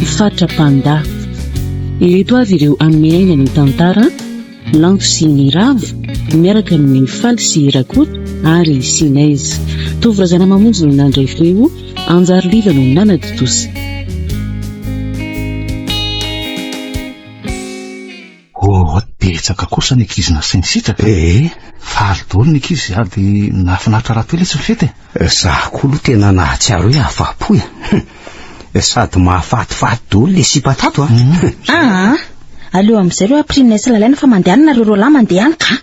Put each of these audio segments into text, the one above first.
i Fatra Panda. Ireto avy ireo amin'ny aina ny tantara, Lanto sy ny Ravo miaraka amin'ny Faly sy Rakoto ary Sinez. Tovo Razanamamonjy no nandray feo, Anjary Liva no nanatontosa. Oh, betsaka kosa ny ankizy nasainy sitraka e! Ee, faly daholo ny ankizy sady nahafinaritra rahateo letsy ny fety e! Za koa aloha tena nahatsiaro hoe afa-po e! Hum, sady mahafatifaty daholo le sipa tato a! Aa, aleo amin'izay ireo ampirina sy lalaina fa mandehanina ireo roalahy mandeha any ka!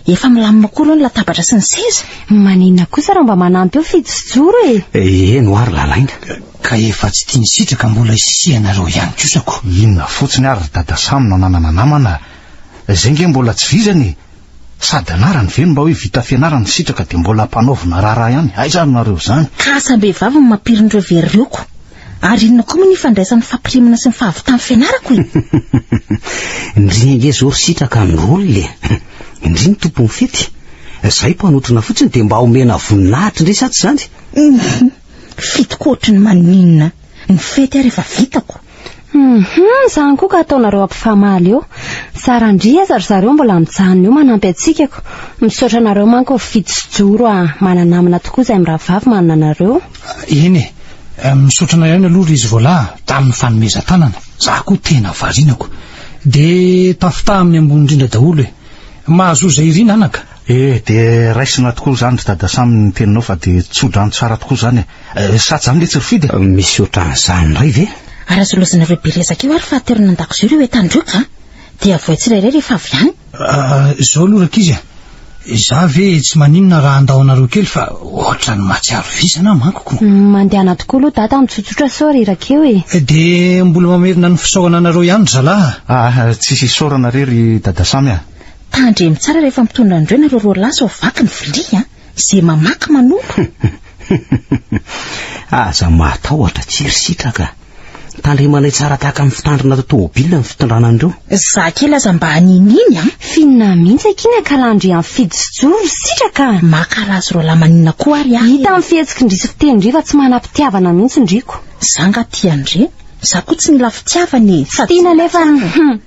Efa milamina koa aloha ny latabatra sy ny seza. Maninona kosa raha mba manampy eo Fijo sy Joro e? Eny ho'a ry Lalaina. Ka efa tsy tia ny sitraka mbola isianareo ihany kosa ko. Inona fotsiny ary ry Dada Samy no ananana namana a! Izay nge mbola tsy vizana e! Sady anarany ve no mba hoe vita fianarana ny sitraka dia mbola ampanaovina raharaha ihany? Aiza ary nareo izany? Ka asam-behivavy no mampirin'ireo very ireo ko! Ary inona koa moa ny ifandraisan'ny fampirimana sy ny fahavitan'ny fianarako e? Ndrii ange zao ry sitraka ny rôle e! Ndrii ny tompon'ny fety! Zahay mpanotrona fotsiny dia mba omena voninahitra ndray sa tsy izany? Fetiko ohatry ny maninona ny fety ary efa vitako! Izany koa ka ataonareo ampifamaly eo! Zara ndrii aza ry zareo mbola mijanona eo manampy hatsikako! Misaotra anareo manko ry fito sy joro a! Mananamana tokoa izay mirahavavy manana anareo! Eny e! Misaotra anao ihany aloha ry izy vola a, tamin'ny fanomezan-tanana. Za koa tena varianako. De tafitaha amin'ny ambony indrindra daholo e! Mahazoa izay irina anaka. E! De raisina tokoa izany ry dada Sam ny teninao fa de tso-drano tsara tokoa izany e! Sa zany letsy ry Fidy e? Misy ohatran'izany indray ve? Ary azolozinareo be resaka eo ary fa aterina an-dakozia ireo entana ireo ka! Dia avoay tsirairay rehefa avy any. Ahh zao aloha rankizy a! Za ve tsy maninona raha handao anareo kely fa ohatrany mahatsiaro vizana aho manko ko! Uhm mandehana tokoa aloha dada mitsotsotra sao reraka eo e! De mbola mamerina ny fisaorana anareo ihany ry zalahy a! Ahh tsisy isaorana re ry dada Samy a! Tandremo tsara rehefa mitondra an'ireo nareo roa lahy sao vaky ny vilia a! Ze mamaky manompo. Aza matahotra, tsy ry sitraka. Tandremanay tsara tahaka ny fitandrina ato tomobilina ny fitondrana an'ireo. Za kely aza mba hanininy an. Finina mihitsy akia ny akalandry an fidy sy joro ry sitraka. Makala azy roa lahy maninona koa ary aho. Hita amin'ny fihetsiky ndry sy fiteny ndry fa tsy manam-pitiavana mihitsy ndry ko. Za nga tia an-dry e. Za koa tsy mila fitiavana e. Sady tsy mila tsara e. Tsy tiana nefa an.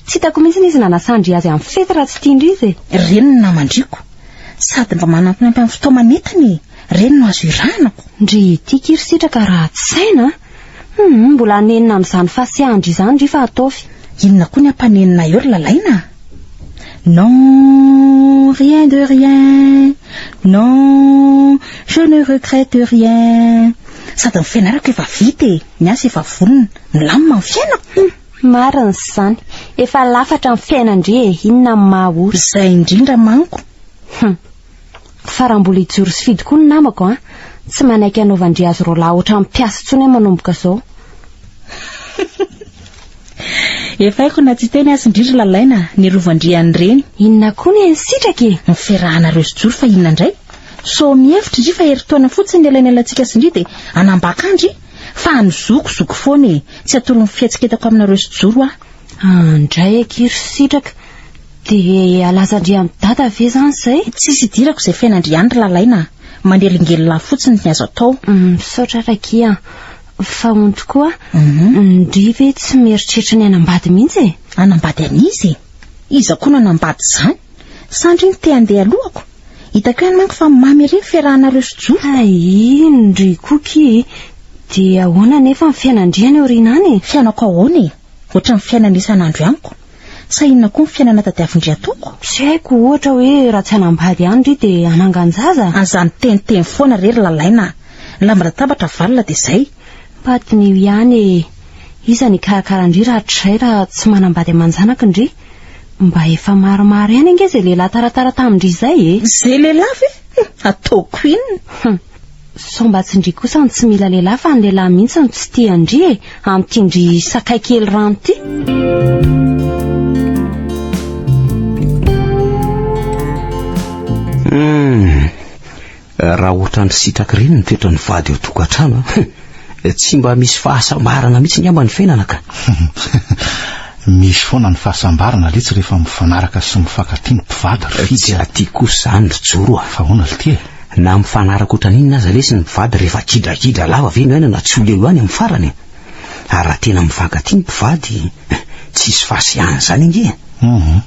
Tsy hitako mihitsy izy nanasandry azy amin'ny fety raha tsy tian-dry izy e. Ireny no naman-driko. Sady mba manampinampy amin'ny fotoana nentiny e. Ireny no azo irahanako. Ndry ity kiry sitraka ratsy saina a! Hum, mbola hanenina an'izany fahasiahan-dry izany ry fa ataovy. Inona koa ny hampanenina eo ry Lalaina a? Non, rien de rien. Non, je ne regrette rien. Sady ny fianarako efa vita e, ny asa efa vonona. Milamina ny fiainako. Marina izany. Efa lafatra ny fiainan-dry e, inona no maha ory. Izay indrindra manko. Hum. Fa raha mbola hijoro sy fidy koa ny namako an, tsy manaiky hanaovan-dry azy roalahy ohatran'ny mpiasa intsony aho manomboka izao. Efa haiko na tsy hiteny aza indry ry Lalaina, ny rovan-dry an'ireny. Inona koa ny an'i Sitraka e? Ny fiarahanareo sy Joro fa inona indray? Sao mihevitra indry fa herintaona fotsiny ny elanelantsika sy ndry dia hanambaka an-dry? Fa any zoky, zoky foana e! Tsy atoron'ny fihetsiketako aminareo sy Joro aho. Andray akia ry sitraka, dia alazandriamidada ve izany izay? Tsisy idirako izay fiainandriany ry Lalaina a! Manelingelina ahy fotsiny ny azo atao. Misaotra ary akia an! Fa hono tokoa, ndry ve tsy mieritreritra ny hanambady mihitsy e? Hanambady an'iza e? Iza koa no hanambady izany? Sa ndry ny te-handeha alohako? Hitako ihany manko fa mamy ery ny fiarahanareo sy Joa. Hay iny ry Cookie e! Dia ahoana anefa ny fiainan'dry any aoriana any e? Fiainako ahoana e? Ohatran'ny fiainana isan'andro ihany ko! Sa inona koa ny fiainana tadiavin-dry ataoko? Tsy haiko, ohatra hoe raha tsy hanambady ihany ry dia hanangan-jaza? Aza miteniteny foana re ry Lalaina a! Ny lamban-databatra avalona dia izay! Mba diniho ihany e! Iza ny hikarakara an-dry rahatrizay raha tsy manambady aman-janaky ndry? Mba efa maromaro ihany ange izay lehilahy taratara tamin-dry izay e! Izay lehilahy ve? Ataoko inona? Hum! Sao mba tsy ndry kosa no tsy mila lehilahy fa ny lehilahy mihitsy no tsy tia an-dry e! Amin'ity ndry sakay kely rano ity! Hum! Raha ohatran'ny sitraky ireny ny toetran'ny vady ao tokantrano an! Tsy mba misy fahasambarana mihitsy ngamba ny fiainana ka! Misy foana ny fahasambarana letsy rehefa mifanaraka sy mifankatia ny mpivady ry Fidy a! Tsy aty kosa izany ry Joro a! Fa ahoana lty e? Na mifanaraka ohatran'inona aza lesy ny mpivady rehefa kidragidra lava ve no aina na tsy ho leo ihany amin'ny farany e! Ary raha tena mifankatia ny mpivady, tsisy fahasiahana izany ange e! Hum!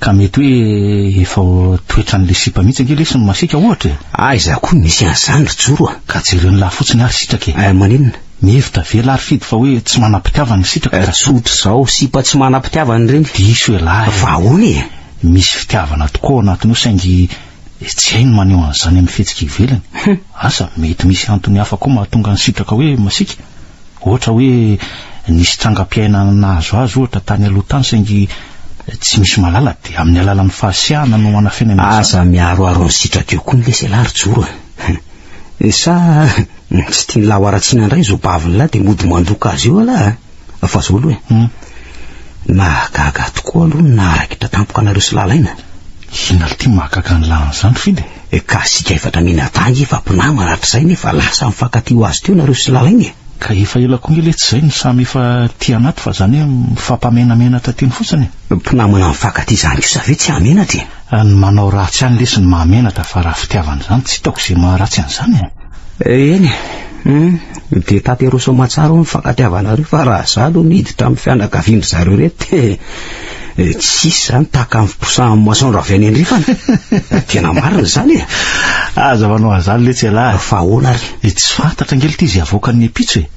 Ka mety hoe efa toetran'ilay sipa mihitsy ange lesy ny masiaka ohatra e. Aiza koa misy an'izany ry Joro a! Ka jereo ny lahy fotsiny ary sitraka e. Eh, maninona? Mihevitra ve lahy ry Fidy fa hoe tsy manam-pitiavana ny sitraka ka. Eh, tsotra izao, sipa tsy manam-pitiavana ireny. Diso ialahy a! Fa ahoana e? Misy fitiavana tokoa ao anatiny ao saingy tsy hay ny maneho an'izany amin'ny fihetsika ivelany. Asa mety misy antony hafa koa mahatonga ny sitraka hoe masiaka? Ohatra hoe nisy trangam-piainana nahazo azy ohatra tany aloha tany saingy tsy misy mahalala dia amin'ny alalan'ny fahasiahana no anafenany an'izany. Aza miaroaro ny sitrak'io koa ny leselà ry Joro a! Sa tsy tian'lah ho haratsiana indray izao bavin'lah dia mody mandoka azy eo alah a! Fa izao aloha e! Nahagaga ahy tokoa aloha ny naharakitra tampoka anareo sy Lalaina. Inona ity mahagaga an'lah an'izany Fidy e? Ka asika efatra minadaha ange fa mpinamana hatrizay nefa lasa mifankatia ho azy teo nareo sy lalaina e! Ka efa ela koa nge letsy izay no samy efa tia anaty fa zany hoe mifampamenamenatra teny fotsiny e! Mpinamana mifankatia izany kosa ve tsy hahamenatra e! Ny manao ratsy ihany lesy no mahamenatra fa raha fitiavana izany tsy hitako izay maharatsy an'izany e! Eny e! Humm! Dia tanterao soa aman-tsara ao ny mifankatiavanareo fa raha za aloha miditra amin'ny fianakavian-dry zareo ireto dia. Eh, tsisy zany tahaka ny fiposahan'ny moisson raha avy any andrefana. Tena marina izany e. Aza manao azany letsy ialahy. Fa ahoana ary? Eh, tsy fantatra nge lety izy havoakan'ny epitso e.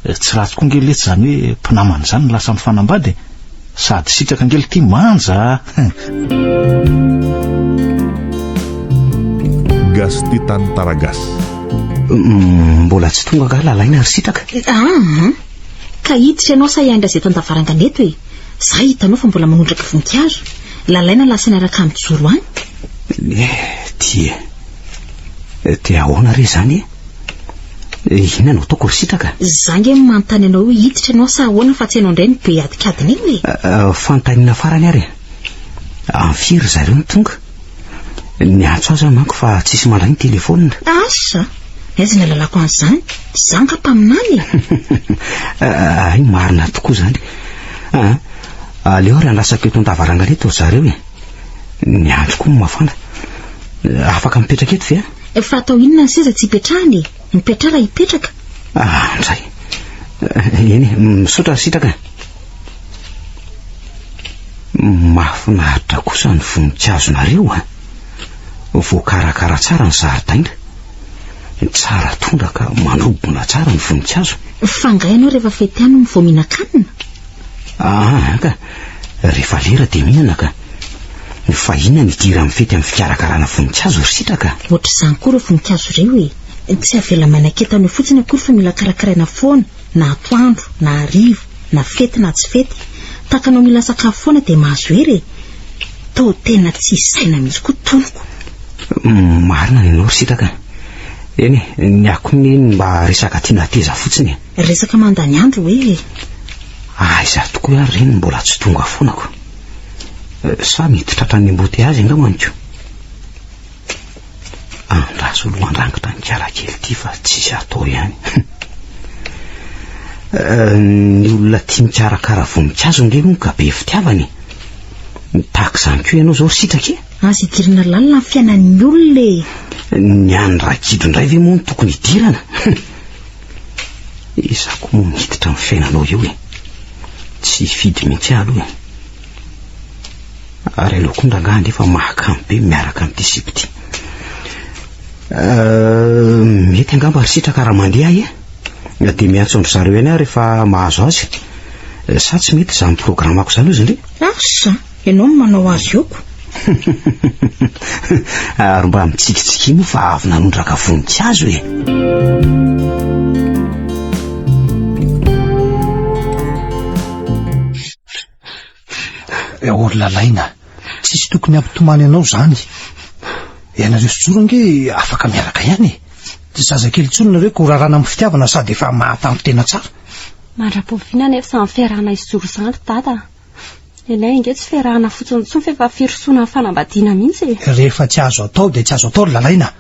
Eh, tsy ratsy koa nge lety izany hoe mpinamana izany no lasa mifanambady e. Sady sitraka nge lety manja. Gasy ty tany Taragasy. Mm, mbola tsy tonga ka lalaina ry sitraka. Ah, ka hiditra ianao sa hiandry azy eto an-davarangana eto e. Za hitanao fa mbola manondraka voninkazo. Lalaina lahy saina raka mijoro any. Dia dia ahoana re zany e? Inona no ataoko ry sitraka? Za nge manontany anao hoe hiditra ianao sa ahoana fa tsy hainao indray ny be adikadiny iny e. Fantanina farany ary. Amin'ny firy ry zareo no tonga? Ny antso aza manko fa tsisy mandray ny telefonina. Asa, aiza ny alalako an'izany? Tsy za nga mpaminany e. Hay marina tokoa izany. Ah, aleo ary andrasako eto an-davarangana eto ry zareo e. Ny andro koa mafana. Afaka mipetraka eto ve a? Fa atao inona ny seza tsy ipetrahana e? Mipetraha raha hipetraka. Ah, ndray. Eny, misaotra sitraka. Mahafinaritra kosa ny voninkazonareo a! Voakarakara tsara ny zaridaina. Tsara tondraka, manobona tsara ny voninkazo. Fa angaha ianao rehefa fety any no vao mihinan-kanina? Aa ka! Rehefa lera dia mihinana ka! Fa inona no idiran'ny fety amin'ny fikarakarana voninkazo ry sitraka? Ohatr'izany koa ireo voninkazo ireo e! Tsy avela manakentana eo fotsiny akory fa mila karakaraina foana. Na atoandro, na hariva, na fety na tsy fety, tahaka anao mila sakafo foana dia mahazo hery e! Toa tena tsy hisy saina mihitsy koa tonoko. Marina ny anao ry Sitraka a! Eny e, ny ahy koa ny mba resaka tiana hateza fotsiny e! Resaka mandany andro hoe e! Aiza tokoa ary re ny mbola tsy tonga foana ko! Sa mety tratran'ny embouteillages angambany ko? Andraso lohan-drangitra ny kiala kely ity fa tsisy atao ihany. Ny olona tia mikarakara voninkazo indray moa ka be fitiavana e. Tahaka izany koa ianao izao ry sitraka e. Aza idirana lalina ny fiainan'ny olona e. Ny an'ny ragidro indray ve moa no tokony idirana? Izaho koa moa miditra amin'ny fiainanao eo e. Tsy hifidy mihitsy aho aloha e. Ary aleo koa ndrangaha anefa mahakamo be miaraka amin'ity sipa ity. Euh, mety angamba ry sitraka raha mandeha ahy e. Dia miantso an-dry zareo ihany aho rehefa mahazo azy. Sa tsy mety izany programmako izany hozy ndry? Asa, ianao no manao azy eo ko. Ary mba mitsikitsikia moa fa avy nanondraka voninkazo e. Eh, ory lalaina, tsisy tokony hampitomany anao zany. Ianareo sy Joro ange afaka miaraka ihany e. Tsy zazakely intsony nareo ka horarana amin'ny fitiavana sady efa mahatanty tena tsara. Mandra-pofiana nefa izany fiarahana sy Joro izany ry Dada. Ilay ange tsy fiarahana fotsiny intsony fa efa firosoana amin'ny fanambadiana mihitsy e. Rehefa tsy azo atao dia tsy azo atao ry lalaina.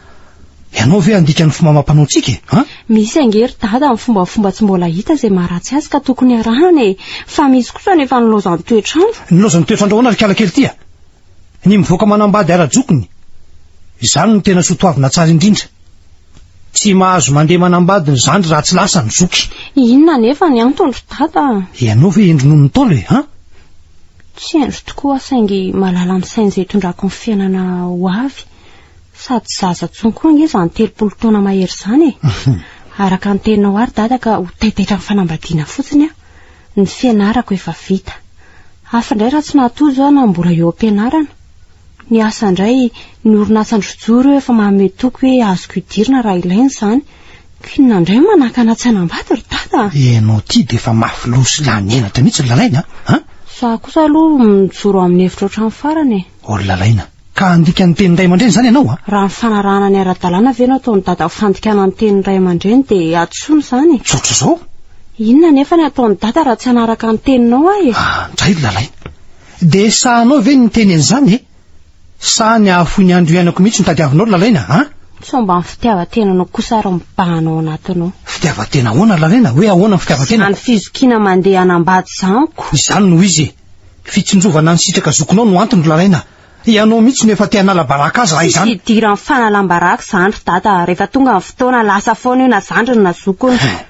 Ianao ve handika ny fomba amam-panao ntsika e? An? Misy ange ry dada amin'ny fombafomba tsy mbola hita izay maharatsy azy ka tokony arahana e! Fa misy kosa anefa nilaozan'ny toetr'andro. Nilaozan'ny toetr'andro ahoana ry kala kely ty a? Ny mivoaka manambady ara-jokiny, izany no tena soa toavina tsara indrindra. Tsy mahazo mandeha manambady ny zandry raha tsy lasa ny zoky. Inona anefa ny antony ry dada a? Ianao ve hendry noho ny Ntaolo e? An? Tsy hendry tokoa aho saingy mahalala ny sain'izay itondrako ny fiainana ho avy. Sady zaza tsony koa ange izany telopolo taona mahery izany e. Araka ny teninao ary dada ka ho taitaitra amin'ny fanambadiana fotsiny aho. Ny fianarako efa vita. Hafa indray raha tsy nahatozo aho na mbola eo am-pianarana. Ny asa indray, ny orinasa ndrojo ireo efa manome toky hoe azoko idirina raha ilaina izany. K'inona indray no manakana tsy hanambady ry dada a! Ianao ity dia efa mafy loha sy lany henatra mihitsy ry Lalaina a! Za kosa aloha mijoro amin'ny hevitra ohatran'ny farany e. Ry Lalaina, Ka handika ny tenin'ny ray aman-dreny izany ianao a? Raha nifanarahana ny ara-dalàna ve no ataon'i Dada ho fandikana ny tenin'ny ray aman-dreny dia hadisoana izany e? Tsotra izao. Inona anefa ny hataon'i Dada raha tsy hanaraka ny teninao aho e? Ah, ndray ry Lalaina. Dia sahanao ve ny miteny an'izany e? Sa ny hahafoy ny andro iainako mihitsy no tadiavinao ry Lalaina a? Sao mba ny fitiavan-tenanao kosa ary mibahana ao anatinao. Fitiavan-tena ahoana ry Lalaina? Hoe ahoana ny fitiavan-tena? Izany fizokiana mandeha hanambady izany ko! Izany no izy e! Fitsinjovana ny sitraka zokinao no antony ry Lalaina a! Ianao mihitsy no efa te hanala baraka azy raha izany! Tsisy idiran'ny fanalam-baraka izany ry Dada a! Rehefa tonga ny fotoana, lasa foana io na zandriny na zokiny. Hein!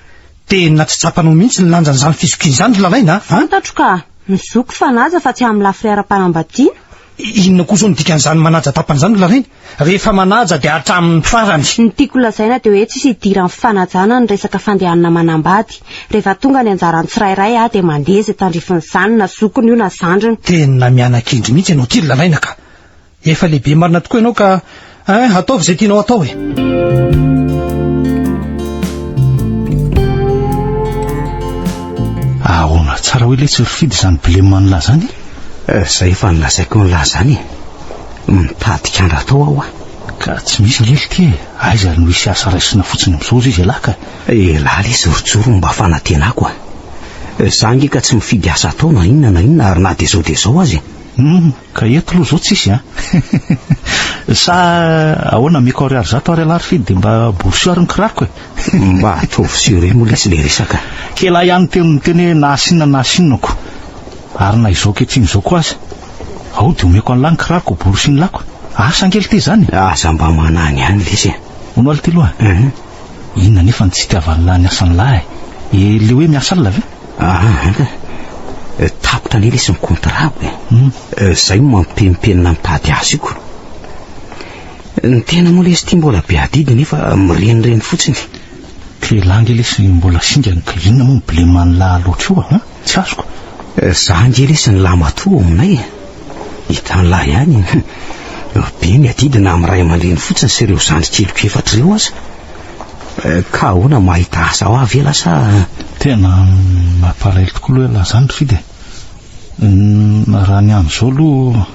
Tena tsy tsapanao mihitsy ny lanjan'izany fizokiana izany ry Lalaina a! Fantatro ka! Ny zoky fanaja fa tsy amin'ny lafiny ara-panambadiana. Inona koa izao no dikan'izany manaja tapany izany ry Larainy? Rehefa manaja dia hatramin'ny farany. Ny tiako holazaina dia hoe tsisy idiran'ny fanajana ny resaka fandehanana manambady. Rehefa tonga ny anjaran'ny tsirairay aho dia mandeha izay tandrifin'izany na zokiny io na zandriny. Tena miana-kendry mihitsy ianao ity ry Laraina ka! Efa lehibe marina tokoa ianao ka Hein, ataovy izay tianao atao e! Ahoana tsara hoe letsy ry Fidy izany blem an'lah izany e? Eh, izay efa nolazaiko an'lah izany e! Mitady kandra atao aho a! Ka tsy misy ngely ity e! Aiza ary no hisy asa raisina fotsiny amin'izao izy elah ka! Elah le jorojoro mba fanantenako a! Izaho nge ka tsy mifidy asa atao na inona na inona ary na dia izao dia izao aza e! Hum, Ka eto aloha zao tsisy a. Sa ahoana Miko Ariary zato ary alary fidy dia mba borsio ary ny kiraroko e. Mba ataovy sur eo moa lesy le resaka. Kela ihany teo no niteny hoe nahasinona nahasinonako ary na izao ankehitriny izao koa aza. Ao dia omeko an'lah ny kiraroko ho borosian'lako. Asa ange lty izany e. Aza mba managny ihany lesy e. Hono aho lty loha a. Inona anefa no tsy itiavan'lah ny asan'lah e. Ilay hoe miasa alina ve? Ah, tapitra anie lesy ny kontrako e. Hmm. Eh, zay no mampempenina ny tady asiko. Ny tena moa lesy ity mbola be adidy nefa mirenireny fotsiny. Telange lesy mbola singany ka inona moa ny bleman'ny lahy loatra io ah? Tsy azoko. Eh, za nge lesy ny lahy matoa ao aminay e. Hitan'lah ihany e! Be ny adidina amin'ny ray aman-dreny fotsiny sy ireo zandry keliko efatra ireo aza. Eh, ka ahoana mahita asa ho avy ela sa? Tena mampalahelo tokoa aloha elah zany ry Fidy e! Raha ny amin'izao aloha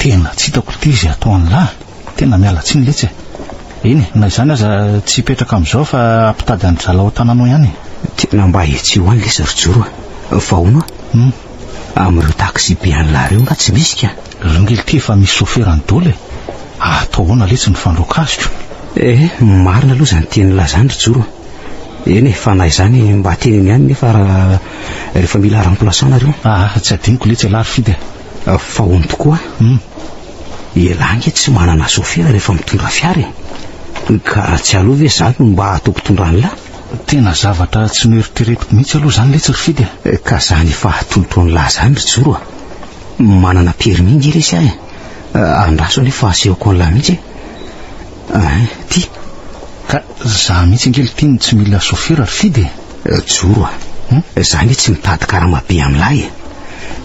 tena tsy hitako ity izay atao an'lah e! Tena miala tsiny letsy e! Eny e, na izany aza tsy hipetraka amin'izao fa hampitady an'dry zalahy ao an-tananao ihany e! Tena mba hetseho any lesy ry Joro a! Fa ahoana? Hum! Amin'ireo taxi-be any la rue nga tsy misy ka? Rangel ty efa misy soferany dol e! Atao ahoana letsy ny fandroaka azy ko? Eh, marina aloha izany tiany hilaza izany ry Joro a! Eny e, fa na izany mba teneno ihany nefa rehefa mila remplaçant nareo. Ah, tsy adinoko letsy elah ry Fidy a! Fa hono tokoa an! Elah nge tsy manana sofera rehefa mitondra fiara e! Ka tsy aleo ve za no mba ataoko mpitondra an'la? Tena zavatra tsy noeritreretiko mihitsy aloha zany letsy ry Fidy a! Ka zany efa tonton'lah zany ry Joro a! Manana permis nge lesy aho e! Andraso anie fa asehoko an'lah mihitsy e! Hein! Ty! Ka za mihitsy ange lty no tsy mila sôfera ry Fidy e! Joro a! Za nge tsy mitady karama be amin'lah e!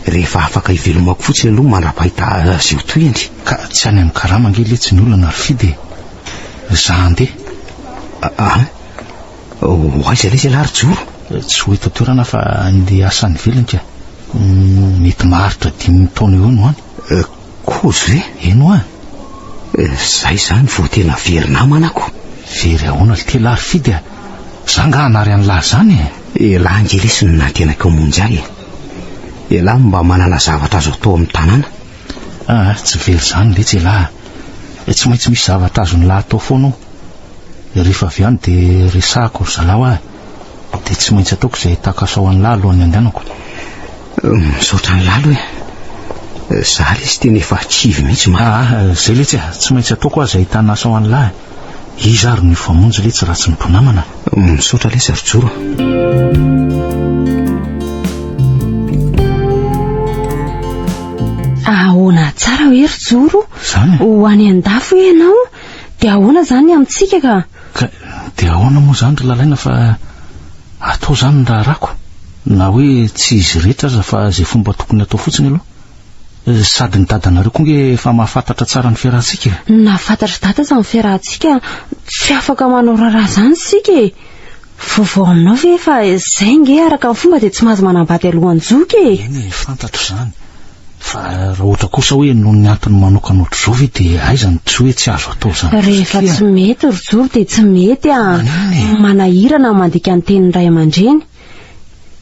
Rehefa afaka hivelomako fotsiny aloha mandra-pahita azy eo tohiny! Ka tsy any amin'ny karama nge letsy ny olana ry Fidy e! Za handeha! Hein! Ho aiza ilay ialahy ry Joro? Tsy ho eto an-toerana fa andeha hiasa any ivelany ka. Mety maharitra dimy taona eo no any. Kozy ve? Eny hoa. Zay izany vao tena very namana ko. Very ahoana ry tela ry Fidy a! Za nga hanary an'lah izany e! Elah nge lesy no nantenako hamonjy ahy e! Elah mba manana zavatra azo atao amin'ny tanàna. Aa tsy very zany letsy elah a! Eh tsy maintsy misy zavatra azon'i lah atao foana ao! Rehefa avy any dia resahako ry zalahy hoa e! Dia tsy maintsy ataoko izay takaso ao an'i lah alohan'ny handehanako. Misaotra an'i lah aloha e! Za lesy tena efa kivy mihitsy mantsy. Aa zay letsy a! Tsy maintsy ataoko hoa izay tanaso ao an'i lah e! Iza ary no hifamonjy letsy raha tsy ny mpinamana? Misaotra lesy ary joro ah, ahoana tsara hoe ry joro Zany? ho any an-dafo hoe ianao dia ahoana zany amintsika ka Ka dia ahoana moa zany ry lalaina fa atao zany ny raharahako na hoe tsy izy rehetra aza fa izay fomba tokony atao fotsiny aloha Sady ny dadanareo koa nge efa mahafantatra tsara ny fiarahantsika e. Nahafantatr'i dada aza ny fiarahantsika, tsy afaka manao raharaha izany isika e. Vaovao aminao ve fa izay nge araka ny fomba dia tsy mahazo manambady alohan-joky e. Eny e, fantatro izany. Fa raha ohatra kosa hoe noho ny antony manokana ohatr'izao ve dia aiza no tsy hoe tsy azo atao izany kosa Rehefa tsy mety ry zoro dia tsy mety a. Maninona e? Manahirana ny mandika ny tenin'ny ray aman-dreny.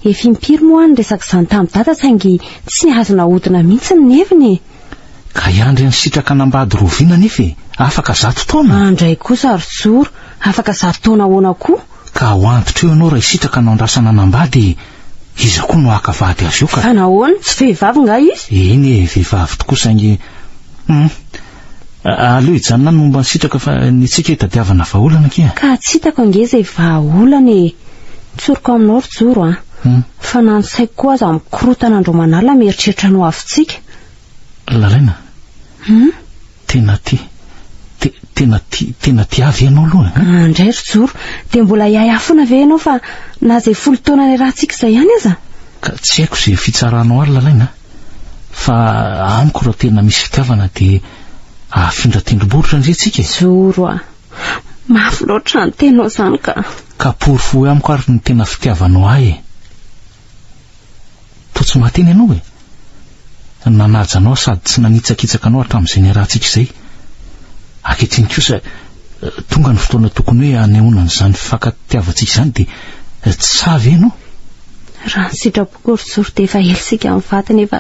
Efa impiry moa aho niresaka izany tamin'i Dada saingy tsy azo nahodina mihitsy ny heviny e! Ka hiandry an'i Sitraka hanambady Rovina anefa e! Afaka zato taona? Andray kosa ry Joro, afaka zato taona ahoana koa? Ka ho antitra eo ianao ray Sitraka no andrasana hanambady e! Iza koa no haka vady azy eo ka? Fa nahoana? Tsy vehivavy nga izy? Eny e, vehivavy tokoa saingy, hum. Aleo hijanona any momba ny sitraka fa ny antsika hitadiavana vahaolana akia. Ka tsy hitako ange izay vahaolana e! Ny tsoriko aminao ry Joro a! Fa na ny saiko koa aza mikorotana andro aman'alina mieritreritra ny ho avintsika. Lalaina, tena ti, te, tena ti, tena ti ahy ve ianao aloha e? An indray ry Joro, dia mbola hiahy ahy foana ve ianao fa na izay folo taona niarahantsika izay ihany aza? Ka tsy haiko izay fitsaranao ary Lalaina a! Fa amiko raha tena misy fitiavana dia afindra tendrombohitra ndry tsika e. Zoro a! Mafy loatra ny tenao izany ka. Ka porofo amiko ary ny tena fitiavanao ahy e. Toa tsy mahateny ianao e. Nanaja anao sady tsy nanitsakitsaka anao hatramin'izay niarahantsika izay. Ankehitriny kosa tonga ny fotoana tokony hoe hanehoana an'izany fifankatiavantsika izany dia tsy sahy ve ianao? Raha ny sitraponao Korojory dia efa ela isika mivady nefa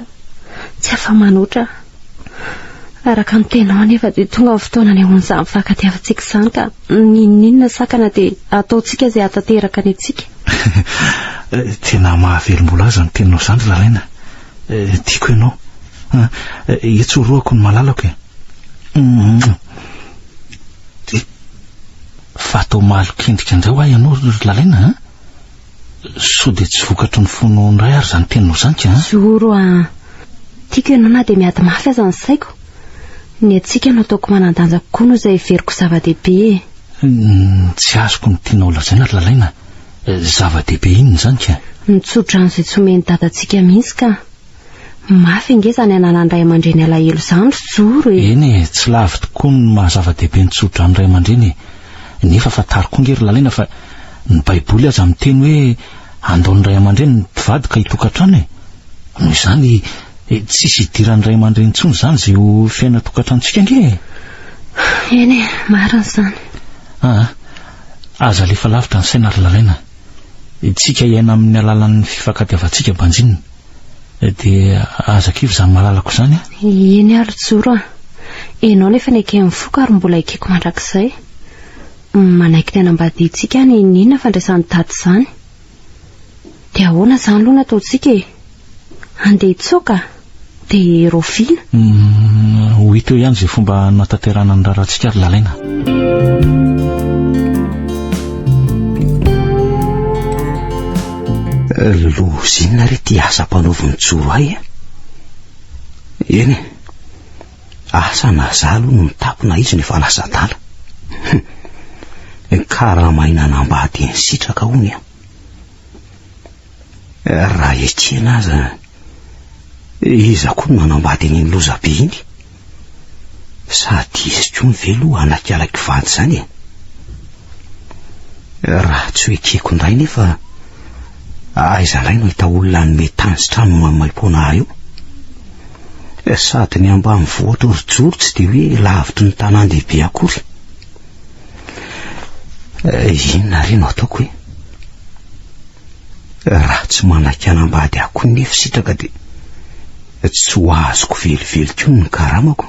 tsy afa-manoatra. Araka ny tenao anefa dia tonga ny fotoana anehoan'izany fifankatiavantsika izany ka n'inon'inona sakana dia ataontsika izay hahatanteraka ny antsika. Tena mahavelom-bolo azy ny teninao izany ry Ralaina. Tiako ianao. Etsorohako ny malalako e. Fa atao malokendrika indray ho ahy ianao ry Lalaina a! Sao dia tsy vokatry ny fonao indray ary izany teninao izany ka an? Zoro a! Tiako ianao na dia miady mafy aza ny saiko. Ny antsika no ataoko manan-danja kokoa noho izay heveriko zava-dehibe e! Ny tsy azoko ny tianao lazaina ry Lalaina, zava-dehibe inona izany ka? Ny tsodrano izay tsy omen'i Dadantsika mihitsy ka! Mafy ange izany ananan ray aman-dreny alahelo izany ry Joro e! Eny e, tsy lavo tokoa ny maha zava-dehibe ny tso-dran'ny ray aman-dreny e! Nefa fantaro koa ange ry Lalina fa ny baiboly aza miteny hoe andao ny ray aman-dreny ny mpivady ka hitokan-trano e! Noho izany tsisy hidiran'ny ray aman-dreny intsony izany izay ho fiainan-tokantranontsika ange e! Eny e, marina izany. Aa, aza alefa lavitra ny saina ry Lalaina. Tsika hiaina amin'ny alalan'ny fifankatiavantsika banjinina. dia aza kivy izany malalako izany a Eny ary joro a Ianao no efa neken'ny foko ary mbola ekeko mandrakizay Manaiky ny hanambadiantsika any Inona fandraisan'i Dada izany Dia ahoana izany aloha no ataontsika e Handeha hitsoaka Dia raoviana Ho hita eo ihany izay fomba hanatanterahana ny raharahantsika ry Lalaina. Lozina re ty asa mpanaovin'ny tsoro ahy e. Eny e, asa na za aloha no mitapo na izy no efa lasa adala. Karamaina anambady ny sitraka hono e. Raha ekena aza, iza koa no nanambady iny lozabe iny? Sady izy koa ny ve loha hanaiky ala kivanty izany e? Raha tsy ho ekeko indray nefa aiza indray no hahita olona hanome tany sy trano maimaim-poana ahy eo? Sady ny ambanivohitra orijoro tsy dia hoe lavitry ny tanàn-dehibe akory. Eh, inona re no ataoko e? Raha tsy manaiky hanambady ahy koa nefa sitraka dia Tsy ho azoko velively koa ny karamako.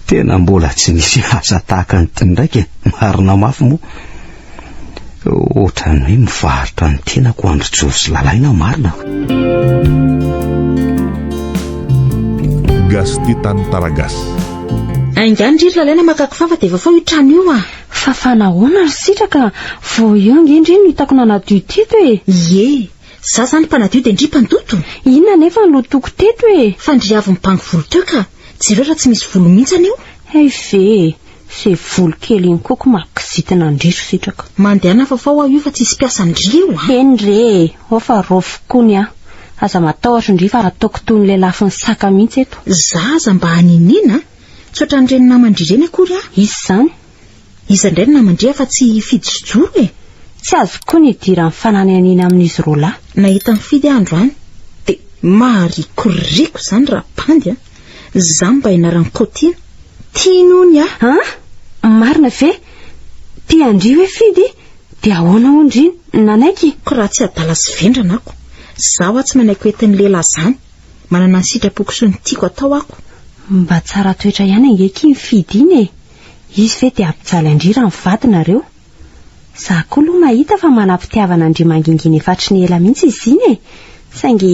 Tena mbola tsy nisy asa tahaka an'ity ndraika, marina mafy moa. Ohatran'ny hoe mivarotra ny tenako Andry Jory sy Lalaina marina. Gasy tia tany Taragasy. Ainga any ry Lalaina maka kifafa dia vafao io trano io ah. Fa fanahoana ry sitraka, vao eo ange ndry no hitako nanadio teto e! Ie, za zany mpanadio dia ndry mpandoto? Inona anefa no lotoko teto e! Fa ndry avy mibango volo teo ka! Jereo raha tsy misy volo mihitsy anio! Hay ve e! Ze volo kely iny koa ko mahakizitina ndry ry sitraka! Mandehana fa fao aho io fa tsy hisy mpiasa ndry eo a! Eny re e! Ao fa rofiko koa ny ahy! Aza matahotra ndry fa ataoko toy ny lelafin'ny saka mihitsy eto! Za aza mba haniniana a! Tsy ohatran'ireny naman-dry ireny akory an! Izy izany. Iza indray no naman-dry afa tsy i Fidy sy Joro e? Tsy azoko koa ny idiran'ny fanananiana amin'izy roa lahy. Nahita an'i Fidy aho androany dia maharikoriko izany rabandy an! Izaho mba ianaran'i Kaotiana. Tiany hono aho. An! Marina ve? Tian-dry hoe Fidy? Dia ahoana hono ry? Nanaiky? Koa raha tsy adala sy vendrana ako, izaho aho tsy manaiky ho entin'ny lehilahy izany. Manana ny sitrapoko sy ny tiako atao ako. Mba tsara toetra ihany ange akia iny Fidy iny e! Izy ve dia hampijaly an-dry raha mivady nareo? Za koa loha mahita fa manam-pitiavana an-dry mangingina efa hatry ny ela mihitsy izy iny e! Saingy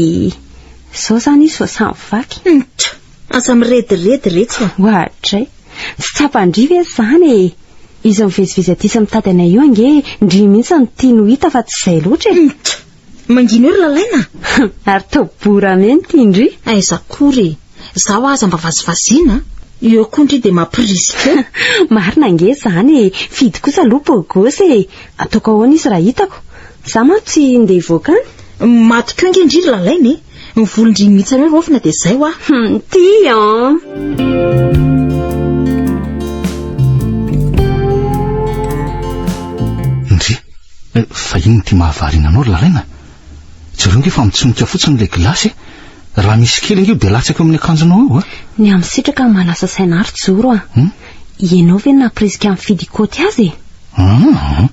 zao zany izy vao samy vaky. Ntt! Aza mirediredy retsy a! Oadray! Tsy tsapan-dry ve zany e! Izy mivezivezy aty sy mitady anay io ange ndry mihitsy no tiany ho hita fa tsy izay loatra e! Ntt! Mangina eo ry lalaina a! Ary tao bora menty indry! Aiza akory e! Zaho aza mba vazivaziana a! Eo koa indry dia mampirisika eo! Marina ange izany e! Fidy kosa aloha beau gosse e! Ataoko ahoana izy raha hitako? Za manko tsy ndeha hivoaka any? Maty koa ange indry ry lalaina e! Ny volondriny mihitsy anao Rofina dia izay hoa. Hum, ty an! Eh, fa inona ity mahavariana anao ry Lalaina? Jereo ange fa mitsonika fotsiny ilay gilasy eh. Raha misy kely ange dia latsaka eo amin'ny akanjonao eo eh. Ny amin'ny sitraka no manasa saina ahy ry Joro a. Hmm? Ianao ve nampirisika ny fidy kaoty azy e? Ah,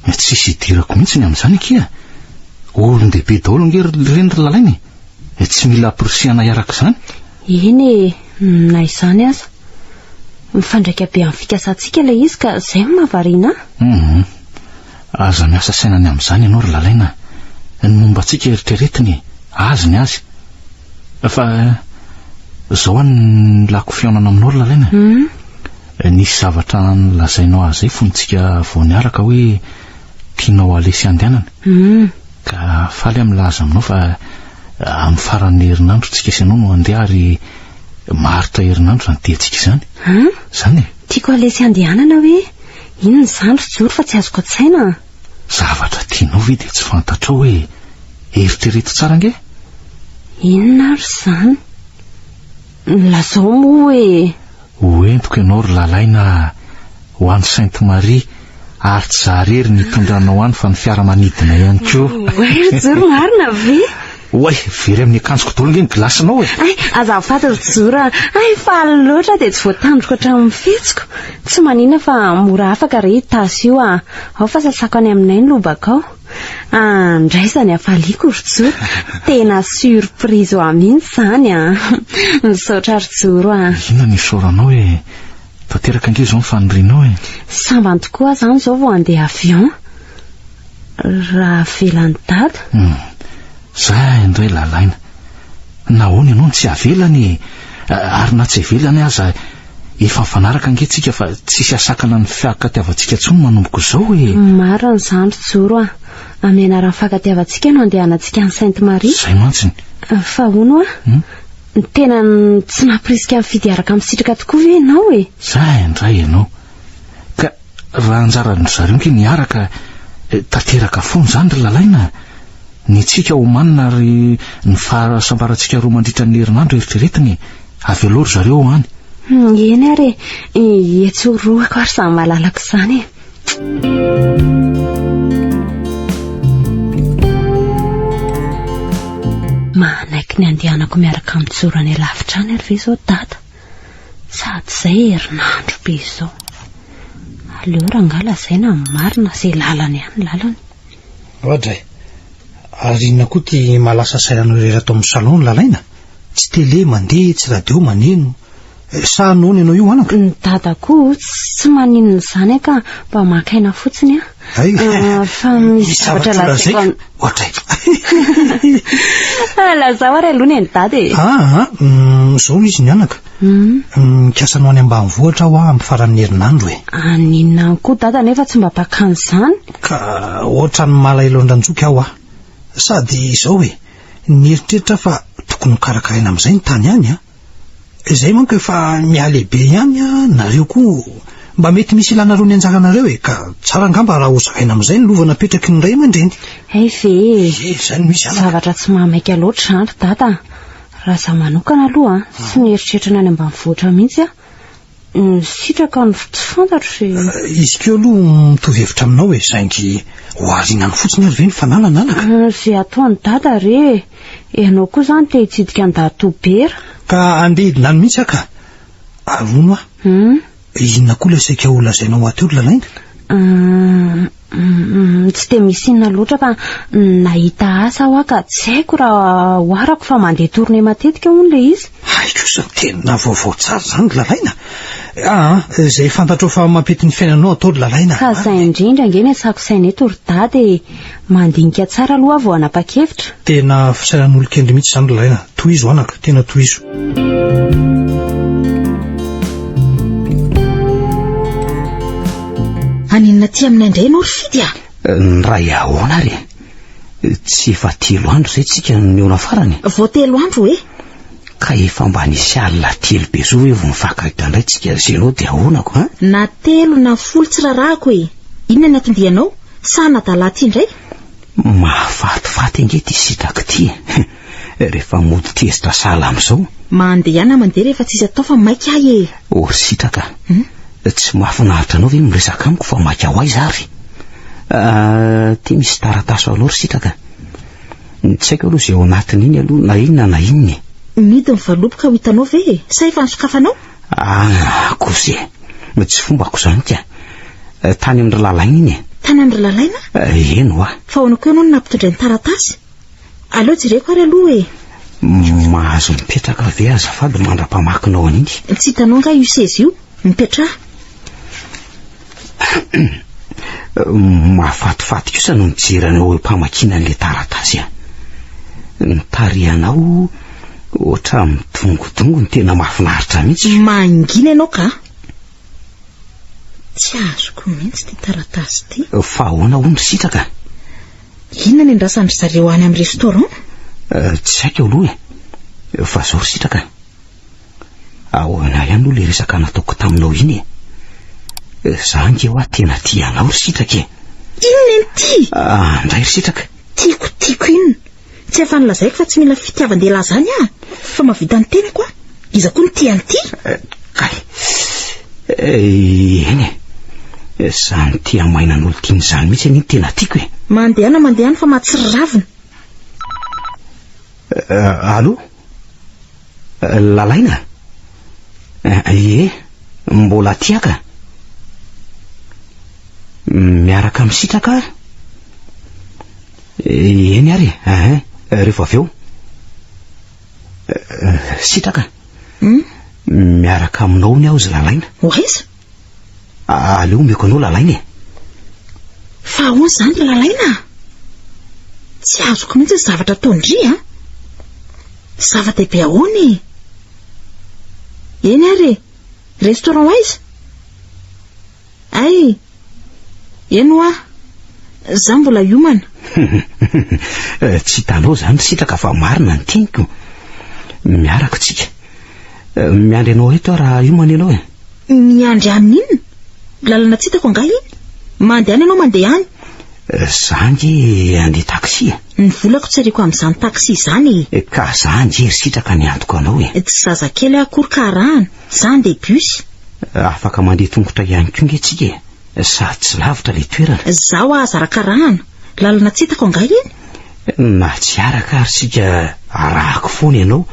Eh, tsisy idirako mihitsy ny amin'izany akia. Olon-dehibe daholo ange ry reny ry lalaina e. Eh, tsy mila amporisihana hiaraka izany. Eny e, na izany aza. Mifandraika be amin'ny fikasantsika ilay izy ka izay no mahavariana ahy. Mhm. Aza miasa saina ny amin'izany ianao ry lalaina. Ny momba antsika eritreretiny e. Azy ny azy. Fa izao any ny lako fihaonana aminao ry lalaina. Mhm. Nisy zavatra nolazainao ahy izay fony tsika vao niaraka hoe tianao halesy handehanana ka faly aho milaza aminao fa amin'ny faran'ny herinandro tsika sy ianao no handeha ary maharitra herinandro izany diantsika izany. Izany e! Tiako halesy handehanana hoe inona izany ry Joro fa tsy azoko an-tsaina an! Zavatra tianao ve dia tsy fantatrao hoe eritrereto tsara ange? Inona ary izany? Lazao moa hoe. Ho entiko ianao ry Lalaina a! Ho any Sainte Marie, ary tsy za irery no hitondra anao any fa ny fiaramanidina ihany koa. Oay Joro marina ve? Oay, very amin'ny akanjoko daholo ange ny gilasinao e! Ay, azafady ry Joro a! Ay, faly loatra aho dia tsy voatandriko hatramin'ny fihetsiko. Tsy manina fa mora afaka re i Tasy io a! Ao fa sasako any aminay ny lobakao. Andraisany hafaliako ry Joro. Tena surprise ho ahy mihitsy izany an. Misaotra ry Joro an. Inona no isaoranao e? Tanteraka ange izao ny fanirianao e. Sambany tokoa aho izany izao vao handeha avion raha avelan'i Dada. Hum, za indray lalaina. Nahoana ianao no tsy avelany e? Ary na tsy avelany aza Efa mifanaraka ange tsika fa tsisy asakana ny fiakatiavantsika tsony manomboka izao e! Marina izany ry Joro a! Amin'ny anaran'ny fiakatiavantsika no andehanantsika any Sainte Marie. Izay mantsy ny. Fa hono a! Tena tsy nampirisika nifidy hiaraka amin'ny sitraka tokoa ve ianao e? Za indray ianao ka. Raha anjaran-dry zareo nge niaraka eh, tanteraka foana izany ry Lalaina eh. Ny antsika omanina ary ny fahasambarantsika roa mandritra ny herinandro eritreretiny eh. Avy aloha ry zareo any. Hmm, eny ary e, etsy roako ary samy malalako izany e. Manaiky ny andehanako miaraka amin'ny tsorany lavitra any ary ve izao dada? Sady izay herinandro be izao. Aleo rangah lazaina ny marina izay lalany ihany ny lalany. Roger eh! Ary inona koa ity maha lasa sainanao irery ato amin'ny salon ny lalaina? Tsy télé mandeha, tsy radio maneno. Sa noana ianao io anaka? Ny dadako tsy maninona izany an ka mba maka aina fotsiny an! Hay fa misy zavatra lazaiko an... Ohatray. Ah, lazao ary aloha ny an'i dada e. Ah, ah, ah mm, zao izy ny anaka. Mm. Mikasa anao any ambanivohitra aho amin'ny faran'ny herinandro e. Aninona ah, koa dada nefa tsy mba pakany izany? Ka ohatran'ny malaelo andranjoky aho ah. Sady izao e, nieritreritra fa tokony ho karakaraina amin'izay ny tany any ah. Zay manko efa mihalehibe ihany a, nareo koa mba mety misy ilanareo ny anjaranareo e, ka tsara angamba raha hozaraina amin'izay ny lova napetraky ny ray aman-dreny. Hay ve e, zavatra tsy mahamaika loatra izany ry dada a. Raha izaho manokana aloha tsy mieritreritra ny any ambanivohitra mihitsy aho, Misitraka ny tsy fantatro e. Izy ko aloha mitovy hevitra aminao e, saingy ho arinany fotsiny ary ve ny fanahy nananaka? Ze ataony dada re e, ianao koa zany te hitsidika an'i Dadotobera? Ka andeha hidina any mihitsy aho ka. Arono aho. Inona koa ilay saika ho lazainao aty ry Lalainga? Tsy dia misy inona loatra fa nahita asa aho ka tsy haiko raha oharako fa mandeha tournée matetika hono ilay izy. Hay kosa, tena vaovao tsara izany ry Lalaina. Ah, izay fantatrao fa mampety ny fiainanao atao ry Lalaina. Ka izay indrindra ange ny asako saina eto ry Dada e. Mandinika tsara aloha aho vao hanapa-kevitra. Tena fisainan'olon-kendry mihitsy izany ry Lalaina. Tohizo anaka, tena tohizo. Haninona aty aminay indray ianao ry Fidy a? Ny ray ahoana ary e? Tsy efa telo andro izay tsika no nihaona farany e? Vao telo andro hoe? Ka efa mba nisy alina telo be izao ve vao nifankahita indray tsika ry Zeno dia ahoana ko an? Na telo na folo tsy rarahako e! Inona ny anton-dianao? Sa hanadala aty indray? Mahafatifaty ange ity sitraky ity e! Eh, rehefa mody tezitra sahala amin'izao. Mandehana mandeha rehefa tsisy atao fa maika ahy e. O ry sitraka, hmm? tsy mahafinaritra anao ve ny miresaka amiko fa maika ho aiza ary? Ah, ty misy taratasy ho anao ry sitraka. Tsy haiko aloha izay ao anatin'iny aloha na inona na inona e. Midy ny valopy ka ho hitanao ve e? Sa efa nisokafanao? Ah, kosy e. Tsy fombako izany ka. Eh, tany amin-dry lalaina iny e. Tany amin-dry lalaina? Eh, eny hoa. Fa ahoana koa ianao no nampitondray ny taratasy? Aleo jereko ary aloha e! Mahazo mipetraka ve azafady mandra-pamakinao an'iny? Tsy hitanao angaha io seza io? Mipetraha! Mahafatifaty kosa ny mijery anao eo am-pamakiana an'ilay taratasy an! Ny tarihanao ohatran'ny midongodongony tena mahafinaritra mihitsy! Mangina ianao ka! Tsy azoko mihitsy ity taratasy ity! Fa ahoana hono sitraka? Inona ny andrasan-dry zareo any amin'ny restaurant? Tsy haiko aloha e. Fa zao ry sitraka a. Ahoana ihany moa ilay resaka nataoko taminao iny e. Za ange hoa tena tia anao ry sitraka e. Inona iny ty? Andray ry sitraka. Tiako, tiako inona? Tsy afany lazaiko fa tsy mila fitiavan-dehilahy zany ah! Fa mahavita ny tenako ah! Iza koa no tia an'ity? Eh, kay. Eh, eny e. Zany tia maina an'olo tiany zany mihitsy anie ny tena tiako e. Mandehana mandehana fa mahatsiravina. Eh, allo? Eh, lalaina? Eh, ie, mbola tiaka? Miaraka misitraka? Eny ary e, ahin, rehefa avy eo. Sitraka. Hmm? Miaraka aminao ny aho zy lalaina. Oaiza? Aleo omeko anao lalaina e. Fa ahoana izany ry lalaina? Tsy azoko mihitsy ny zavatra ataon-dry a. Zava-dehibe ahoana e? Eny ary e, restaurant aiza? Ay! Eny hoa! Za mbola hiomana! Tsy hitanao zany ry sitraka fa marina ny teniko. Miaraka tsika. Miandry anao eto aho raha hiomana ianao e. Miandry ahy inona? Lalana tsy hitako angaha iny? Mandehana ianao mandeha any. Za nge handeha taxi e. Ny volako tsy ariako amin'izany taxi izany e. Ka za nge ry sitraka ny antoko anao e. Tsy zazakely aho akory ka arahana. Zany dia bus? Afaka mandeha tongotra ihany koa nge tsika e, sady tsy lavitra le toerana. Zaho aza arakarahana, lalana tsy hitako angaha iny? Na tsy araka ary sika arahako foana ianao,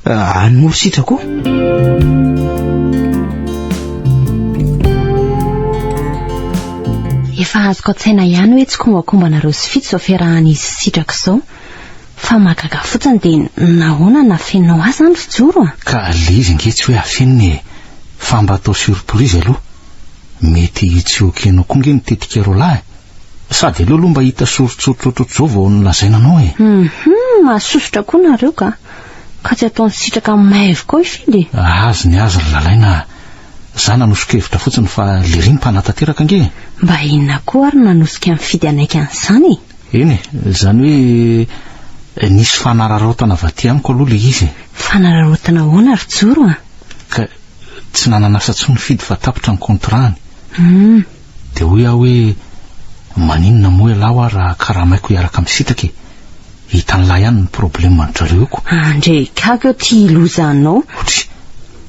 any moa ry sitrako Efa azoko an-tsaina ihany hoe tsy kombakombanareo sy fito zao fiarahan'izy sy sitrako zao. Fa mahagaga fotsiny dia nahoana no afeninao ahy izany ry Joro a? Ka le izy ange tsy hoe afenina e! Fa mba atao surprise aloha! Mety tsy ok-nao koa nge ny tetika roalahy? Sady aleo aloha mba hita soritsoritra ohatrohatr'izao vao nolazaina anao e! Hum! Mahasosotra koa nareo ka! Ka tsy ataony sitraka amin'ny mahay avokoa hifidy e! Azy ny azy ry Lalaina a! Za nanosika hevitra fotsiny fa lery no mpanatanteraka ange e! Mba inona koa ary no nanosika nifidy hanaiky an'izany e! Eny e, izany hoe nisy fanararaotana vaty amiko aloha ilay izy e. Fanararaotana ahoana ry Joro a? Ka tsy nanan'asa intsony Fidy fa tapitra ny contrat-ny. Hum. Dia hoy aho hoe maninona moa ialahy hoa raha karamaiko hiaraka misitaka e. Hitan'lah ihany ny probleme ny drareo ko. Andrekako eo ty loza anao. Otry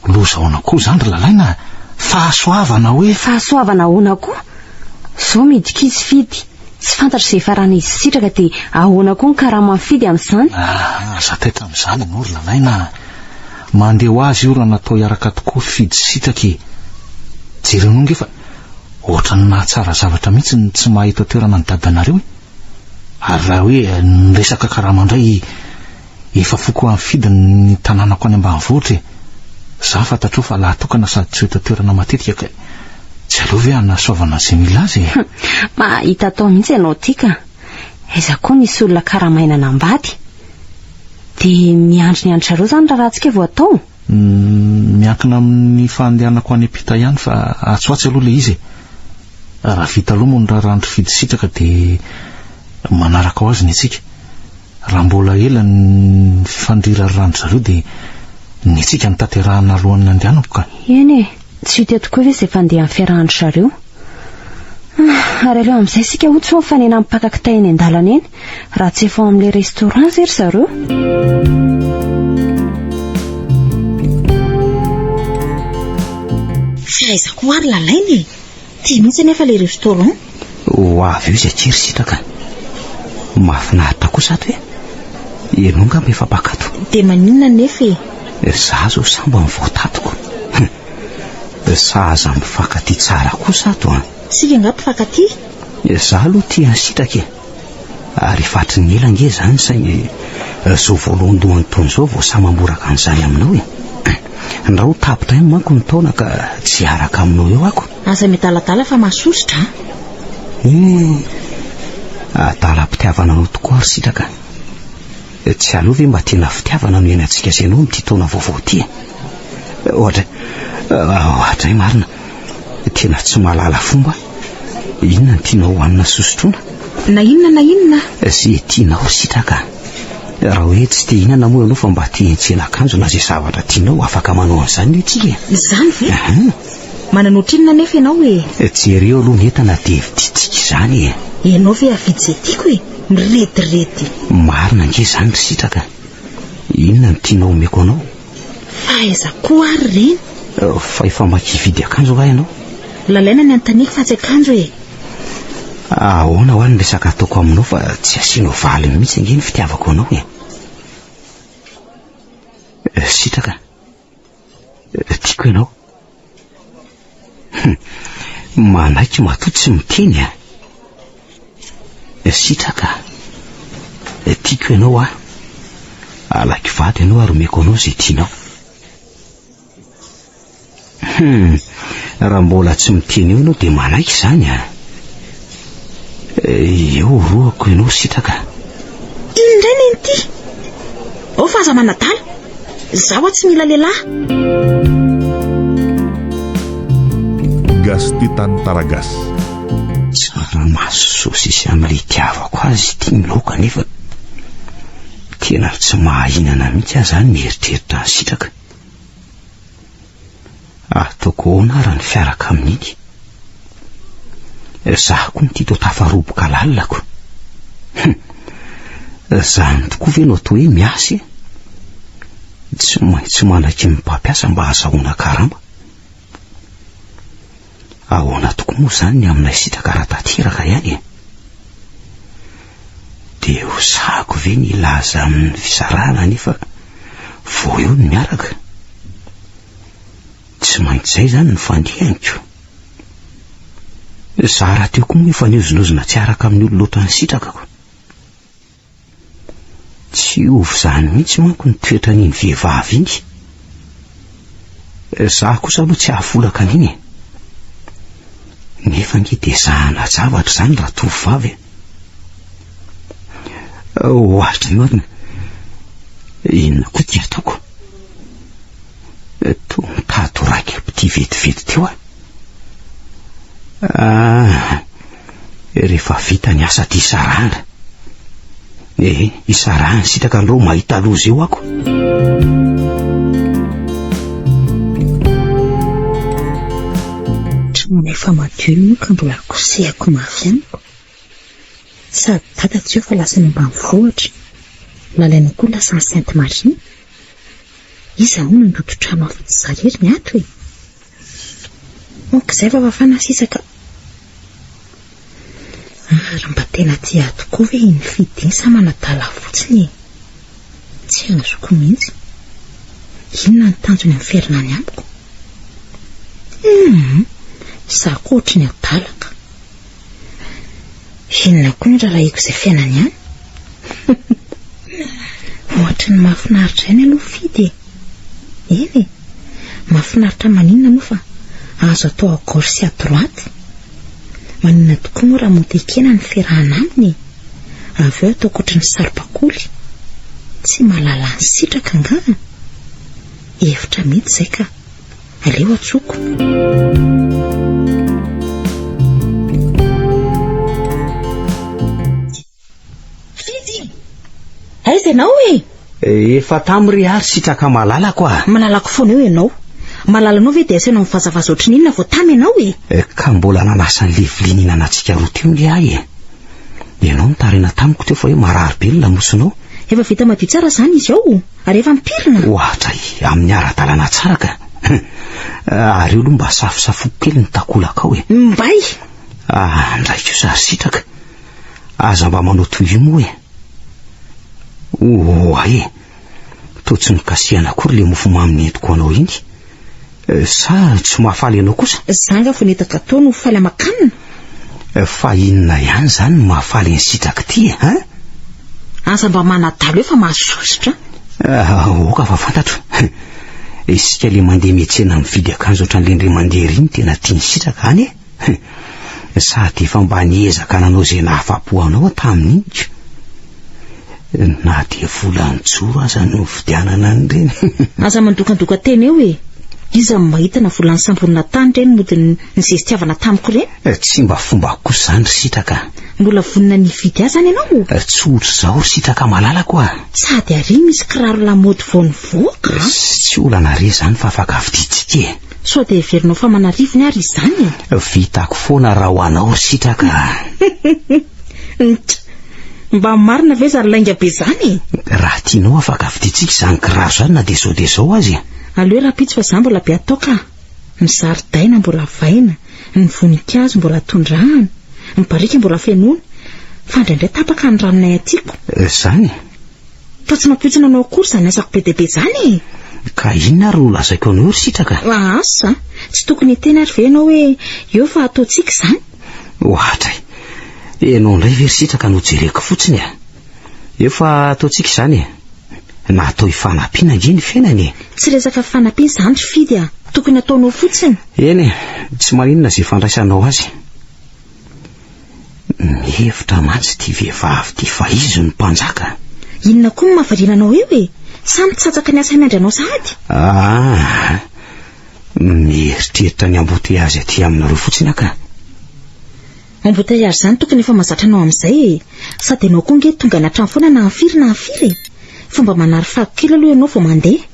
loza ahoana koa izany ry Lalaina a? Fahasoavana hoe. Fahasoavana ahoana koa? Zao midika izy Fidy. Tsy fantatro izay faran'izy sitraka dia ahoana koa ny karama mifidy amin'izany? Ah, aza taitra amin'izany ianao ry Lalaina a! Mandeha ho azy io raha natao hiaraka tokoa fifidy sitraka e! Jereo anao nge fa ohatran'ny mahatsara zavatra mihitsy ny tsy maha eto an-toerana an'i dadanareo e! Ary raha hoe niresaka karama indray i Efa foko amifidy ny tananako any ambanivohitra e! Za fantatrao fa lahatokana sady tsy hita toerana matetika kay tsy aleo ve anasoavana ze mila azy e! Mahita atao mihitsy ianao ty ka! Aiza koa misy olona karamaina anambady? Dia miandry ny an-dry zareo zany raharahantsika vao atao? Miankina amin'ny fandehanako any ampita ihany fa atsy ho atsy aloha ilay izy e. Raha vita aloha moa ny raharahan'ny mpifidy sitraka dia manaraka ho azy ny antsika. Raha mbola ela ny fifandirariran-dry zareo dia ny antsika no tanterahina alohan'ny handehanako ka. Eny e, tsy ho tia tokoa ve izay fandehan'ny fiarahan-dry zareo? Ary aleo amin'izay isika hono tsy ho mifanena amin'ny mpaka kitay eny an-dalana eny. Raha tsy efa ao amin'ilay restaurant ve ry zareo? Tsy aizako ary lalaina e. Tia mihitsy anefa ilay restaurant. Ho avy eo izy aty ry sitraka. Mahafinaritra kosa ato e. Ianao angamba efa mpakato. Dia maninona anefa e? Izaho izao sa mba mivoatatiko? Hum. Sahaza mifankatia tsara kosa ato an. Isika angaha mpifankatia? Izaho aloha tia an'i sitraka e. Ary efa hatry ny ela ange izany saingy izao voalohandohany toy izao vao sahy mamboraka an'izany aminao e! Ndra ho tapitra ihany manko ny taona ka tsy hiaraka aminao eo ako. Aza miadaladala fa mahasosotra a! Hum, adalam-pitiavana anao tokoa ry sitraka a! Tsy aleo ve mba tena fitiavana no hiainantsika sy ianao amin'ity taona vaovao ity e! Ohatra, ohatra e! Marina Tena tsy mahalala fomba Inona no tianao hohanina sy hosotroina? Na inona na inona Ze tianao sitraka Raha hoe tsy te hihinana moa ianao fa mba te hiantsena akanjo na ze zavatra tianao afaka manao an'izany ve tsika e? Izany ve? Ahh. Manana ohatrinona anefa ianao e? Jereo aloha ny entana dia vidintsika izany e! Ianao ve hahavidy ze tiako e? Mirediredy. Marina ange izany ry sitraka Inona no tianao omeko anao? Fa aiza koa ary ireny? Fa efa maika hividy akanjo nga ianao? Lalaina ny anontaniako fa tsy akanjo e! Ahoana hoa ny resaka ataoko aminao fa tsy asianao valiny mihitsy ange ny fitiavako anao e! Sitraka, tiako ianao. Hum, manaiky matoa tsy miteny a. Eh? Sitraka, eh, tiako ianao a. Alaiko vady ianao ary omeko anao izay tianao. Hum, raha mbola tsy miteny eo ianao dia manaiky izany a. Eh, eo rohako ianao sitraka. Iny indray nenity. Ao fa aza manadala. Zaho tsy mila lehilahy. Gasy tia tany Taragasy. Tsaramaso sosisy amin'ilay itiavako azy ity ny laoka nefa tena tsy mahahinana mihitsy aho izany mieritreritra an'i Sitraka. ary toako ahoana ary ny fiaraka amin'iny? Zah koa mity to tafaroboka lalako. Hum, zany tokoa ve no atao hoe miasa e? Tsy maintsy manaky ny mpampiasa mba hazahoana karama. Ahoana tokoa moa izany ny aminay sitraka raha tanteraka ihany e? Dia ho sahako ve ny hilaza amin'ny fisarahana nefa vao eo ny miaraka? Tsy maintsy izay izany no fandiniko. Izaho rahateo koa moa efa niozonozona tsy araka amin'ny olona ohatran'ny sitrakako. Tsy ovy izany mihitsy manko ny toetran'iny vehivavy iny. Izaho kosa aloha tsy hahafolaka an'iny e. Nefa ange dia zahana zavatra izany raha tovovavy e. Ohatry ny marina, inona koa ity ataoko? Toa mitady ho raiki-pitia vetivety teo aho. Ah, rehefa vita ny asa tia sarahana e isarahany sitraka anreo mahita loza eo ako trano efa madio moa ka mbola kosehako mafy amiko sady dada tsy eo fa lasa ny ambany vohatra lalaina koa lasa ny sainte marie iza hono nandoto trano afa-tsy za rery ny ato e Ok zay fa mafana sisa ka. Ary mba tena tia ahy tokoa ve i Nifidy iny sa manadala ahy fotsiny e? Tsy azoko mihitsy. Inona ny tanjony amin'ny fihairana any amiko? Hum! Sa koa ohatry ny adala ka. Inona koa no rarahiko izay fiainany any? Ohatry ny mahafinaritra ihany aloha fidy e. Eny e, mahafinaritra maninona moa fa azo atao à gauche sy à droite. Maninona tokoa moa raha monter kena ny fiarahana aminy e. Avy eo ataoko ohatry ny saribakoly. Tsy mahalala ny sitraka angaha? Hevitra mihitsy izay ka. Aleo atsoko. Fidy! Aiza ianao e? Efa tam ry ary sitraka malalako ah. Malalako foana eo ianao. Malalanao ve dia asainao mivazavaza ohatry ny inona vao tam ianao e? Eh, ka mbola nanasa an'ilay vilia nihinanantsika roa teo nge ahy e. Ianao nitarina tamiko teo fa hoe marary be ny lamosinao. Efa vita madio tsara izany izy ao. Ary efa am-pirina. Ohatra i, amin'ny ara-dalàna tsara ka. Ary eo aloha mba safosafoko kely ny takolakao e. Mbay! Ah, ndray kosa ry sitraka. Aza mba manao toy io moa e. Oa e. Toa tsy nikasihana akory le mofomamy nentiko ho anao iny. Eh, sa tsy mahafaly anao kosa? Za nga vao nety gâteau no faly aman-kanina? Eh, fa inona ihany zany no mahafaly an'i Sitraky ty eh, hein? Aza mba manadalo eo fa mahasosotra an! Ah, aoka fa fantatro. Isika le mandeha miatsena mividy akanjo ohatran'le ndry mandeha ry no tena tian'i Sitraka any eh! Hum, sady efa mba niezaka nanao izay nahafapo anao tamin'iny ka. Na dia volan-joro aza no nividianana an'ireny. Aza mandokandoka tena eo e! Iza no mahita na volan'ny samborina tany ireny mody nizestiavana tamiko ireny? Eh, tsy mba fombako kosa izany ry Sitraka a! Mbola vonona ny hividy azy any ianao o? Eh, tsy ohatr'izao ry Sitraka malalako a! Sady àry misy kiraro lamaody vao nivoaka a! Tsy olana re izany fa afaka vidintsika e! Sao dia heverinao fa manarivony ary izany e! Vitako foana raha ho anao ry sitraka a! Ntra! Mba marina ve zany lainga be zany e! Raha tianao afaka vidintsika izany kiraro izany na dia zao dia zao aza e! Aleo rahampitso fa za mbola be atao ka! Ny zaridaina mbola vaina, ny voninkazo mbola tondrahana, ny barika mbola fenoina, fa indraindray tapaka ny ranonay atiako. Zany? Fa tsy nampoizina anao akory izany asako be dia be izany e! Ka inona ary no lazaiko anao ry Sitraka? Asa! Tsy tokony hiteny ary ve ianao hoe eo fa ataontsika izany? Ohatra e! Ianao indray ve ry Sitraka no jereko fotsiny e! Eo fa ataontsika izany e! Natao hifanampiana ange ny fiainana e! Tsy resaka fifanampiana izany ry Fidy a! Tokony ataonao fotsiny! Eny e! Tsy maninona izay fandraisanao azy. Mihevitra mantsy ity vehivavy ity fa izy no mpanjaka. Inona koa no mahavariana anao eo e? Sa mitsatsaka ny asa miandry anao sahady? Ah, mieritreritra ny embouteillage aty aminareo fotsiny aho ka. Embouteillage zany tokony efa mazatra anao amin'izay e! Sady ianao koa nge tonga any an-trano foana na firy na firy e! Fomba manary fako kely aloha ianao vao mandeha.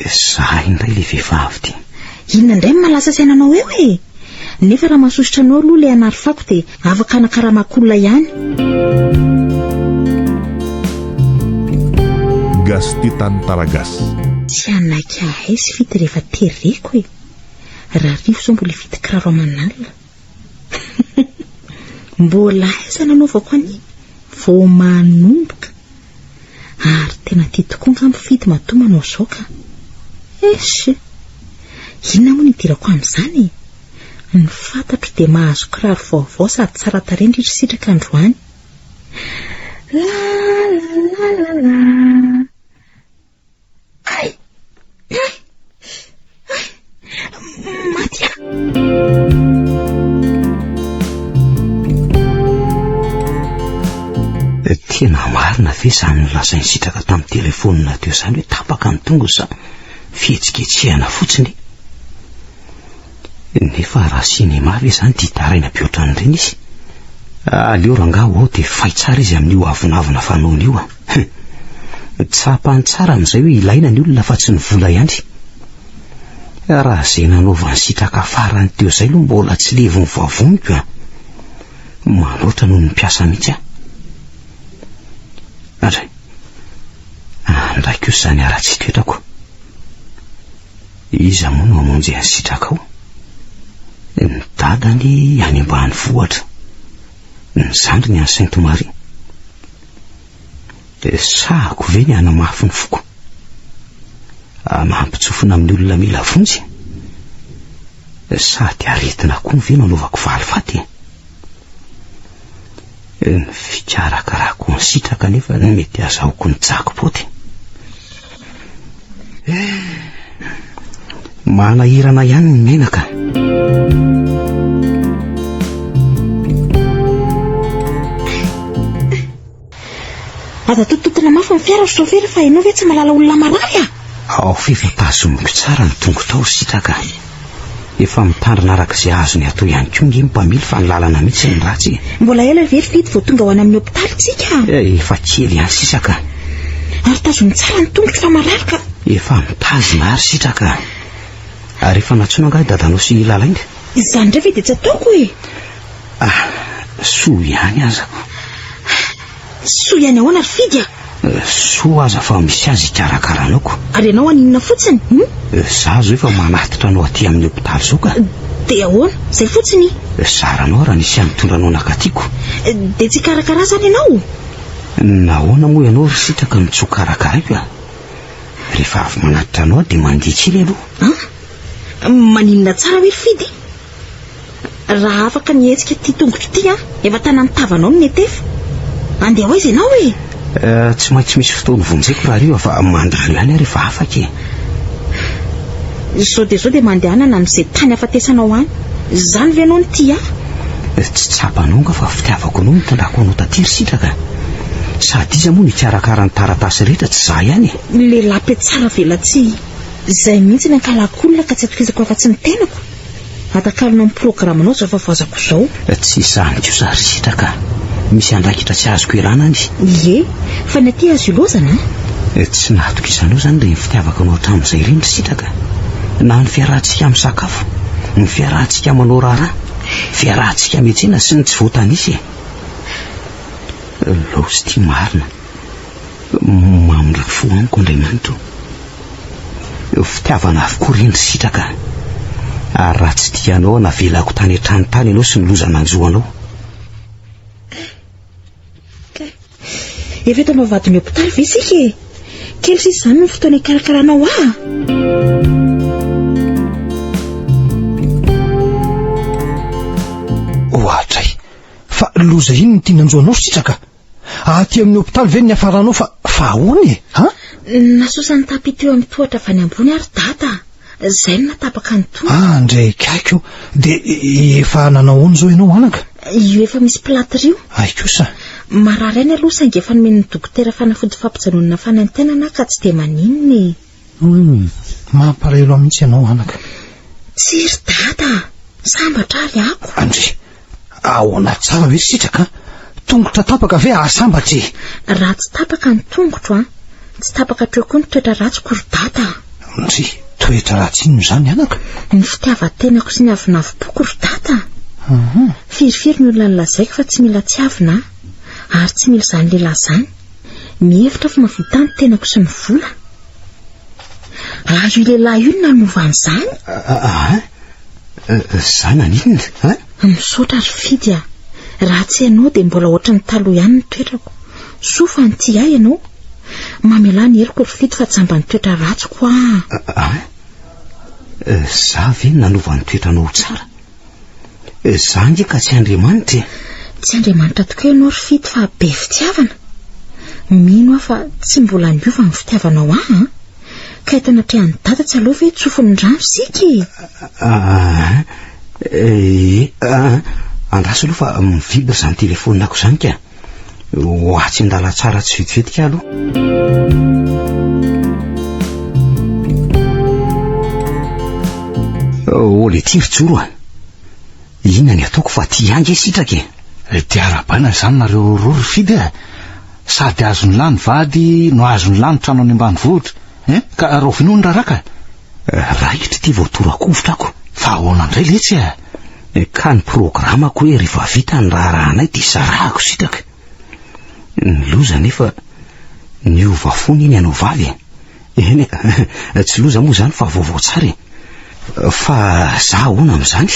Zah indray le vehivavy ty. Inona indray no mahalasa saina anao eo e? Nefa raha mahasosotra anao aloha le hanary fako de afaka hanakaramako olona ihany. Gasy tia tany tara gasy. Tsy hanaiky ahay sy fity rehefa tereko e. Raha arivo zao mbola hividy kiraro aman'alina. Mbola aiza nanaovako an'iny? Vao manomboka. Ary tena tia tokoa angamba Fidy matoa manao izao ka. Eish! Inona moa no idirako amin'izany e? Ny fantatro dia mahazo kiraro vaovao sady tsara tarehy indrindra isika ka androany. La la la la la. Tena marina ve izany nolazain'i Sitraka tamin'ny telefonina teo izany hoe tapaka ny tongony sa fihetsiketsehana fotsiny? Nefa raha sinema ve izany dia hitaraina be ohatran'ireny izy? Aleo rangaha ho ao dia fay tsara izy amin'io avonavona fanaony io an! Hum, tsapany tsara amin'izay hoe ilaina ny olona fa tsy ny vola ihany. Raha izay nanaovany sitraka farany teo izay aloha mbola tsy levon'ny vavoniko an. Manoatra noho ny mpiasa mihitsy an. Andray, andray kosa izany ara-tsitoetrako. Iza moa no hamonjy an'i sitrakao? Ny dadany any ambanivohitra. ny zandriny an'i Sainte Marie. Resahako ve ny hanamafy ny foko? Mampitsofina amin'ny olona mila vonjy? Sady aretina koa ve no anaovako valifaty? Ny fikarakarako ny sitraka anefa ny mety azahoako ny jackpot. Manahirana ihany ny menaka. Aza tototina mafy ny fiara ry chauffeur fa ianao ve tsy malala olona marary ah? Ao f'efa tazomiko tsara ny tongotrao sitraka. Efa mitandrina araka izay azony atao ihany koa nge ny mpamily fa ny lalana mitsy ny ratsy e. Mbola ela ve ry Fidy vao tonga ho any amin'ny hopitaly tsika? Eh, efa kely ihany sisa ka. Ary tazony tsara ny tongotro fa marary ka. Efa mitazona ary sitra ka. Ary efa nantsoina angaha i dadanao sy i Lalainga? Izany indray ve dia tsy ataoko e. Ah, soa ihany azako. Soa ihany ahoana ry Fidy a! Soa aza fa misy azy ikarakaranao ko! Ary ianao an inona fotsiny hum? Za zao efa manatitra anao aty amin'ny hopitaly zao ka! Dia ahoana? Zay fotsiny i! Zara anao raha nisy hanitondra anao nakaty ko! Dia tsy hikarakara zany ianao? Nahoana moa ianao ry sitraka no tsy ho karakaraiko a! Rehefa avy manatitra anao dia mandihy kely aloha! An! Maninona tsara hoe ry Fidy? Raha afaka ny hetsika ity tongotro ity an! Efa tanan'ny tavanao no netefa! Andeha ho aiza ianao e? Eh, tsy maintsy misy fotoana vonjeko rahariva fa mandalo ihany aho rehefa afaka e! Izao dia izao dia mandehanana amin'izay tany ahafatesanao any! Izany ve ianao no tia ahy? Eh, tsy tsapanao angaha fa fitiavako anao no nitondrako anao taty ry sitraka? Sady iza moa no hikarakara ny taratasy rehetra tsy izaho ihany e? Ny lehilahy mpiatsara velatsihy izay mihitsy ny ankalakolina ka tsy atokisako afa-tsy ny tenako! Atakalona ny programanao zao fa vazako zao. Tsy izany kosa ry sitraka, misy andraikitra tsy azoko ialana any. Ie, fa ny aty azo ilozana an! Tsy nahatokisanaho izany ireny fitiavako anao hatramin'izay ireny ry sitraka. Na ny fiarahantsika misakafo, ny fiarahantsika manao raharaha, fiarahantsika miantsena sy ny tsy voatanisa e! Laosy ity marina. Mamindra fo amiko Andriamanitra o! Fitiavana avokoa re ny sitraka, ary raha tsy tianao aho navelako tany an-trano tany ianao sy ny loza nanjo anao. Efa eto am-bavahadin'ny hopitaly ve isika e? Kely sisa izany ny fotoana hikarakaranao ahy. Ohatray! Fa loza inona ity nanjo anao Sitraka? Aty amin'ny hopitaly ve ny niafaranao fa fa ahoana e? Ha? Nasosan'ny tapis teo amin'ny tohatra avy any ambony ary dada. Zay no natapaka ny tongotra. Ah, ndray kaiky oh. De efa nanao ahoana izao ianao anaka? Io efa misy plâtre io. Hay kosa. Marary aina aloha saingy efa nomen'ny dokotera fanafody fampijanonana fanaintainana aho ka tsy dia maninona e. Humm! Mampalahelo aho mihitsy ianao anaka. Tsy ry dada a! Sambatra ary ako. Andry! Ahoana tsara ve sitraka a! Tongotra tapaka ve ahasambatra e! Raha tsy tapaka ny tongotro a! Tsy tapaka hatreo koa ny toetra ratsiko ry dada a! Ndry! Toetra ratsy inona izany anaka? Ny fitiavan-tenako sy ny avonavim-poko ry dada a! Uhum! Firifiry ny olona nolazaiko fa tsy mila tiavina aho. Ary tsy mila izany lehilahy izany. Mihevitra fa mahavita ny tenako sy ny vola? Ary io lehilahy io no nanova an'izany? Aa, za naninona? A? Misaotra ry Fidy a. Raha tsy ianao dia mbola ohatran'ny taloha ihany ny toetrako. Soa fa nitia ahy ianao. Mamelà ny heloko ry Fidy fa jamba ny toetra ratsiko a. A? Za ve nanova ny toetranao ho tsara? Eh, za nge ka tsy Andriamanitra e. Tsy Andriamanitra tokoa ianao ry Fito fa be fitiavana. Mino aho fa tsy mbola niova ny fitiavanao ahy an. Ka eto anatrehan'i Dada tsy aleo ve tsofin'ny rano isika e? Ah, eh, ah, andraso aloha fa mivibre izany telefaonina ko izany ka. ho atsy an-dalantsara tsy vetivetika aloha Oh, le tiry joro a. Inona ny ataoko fa ty ange sitraka e. Eh, dia arabaina izany nareo roa ry Fidy a. Sady azony lahy ny vady no azony lahy ny trano any ambanivohitra. Eh, ka rahoviana hono raraka? Eh, raikitra ity vao torakovitra ako. Fa ahoana indray letsy a? ka ny programako hoe rehefa vita ny raharahanay dia sarahako sitraka. Ny loza anefa, niova fo neny ianao vavy e. Eny e, tsy loza moa izany fa vaovao tsara e. Fa za ahoana amin'izany?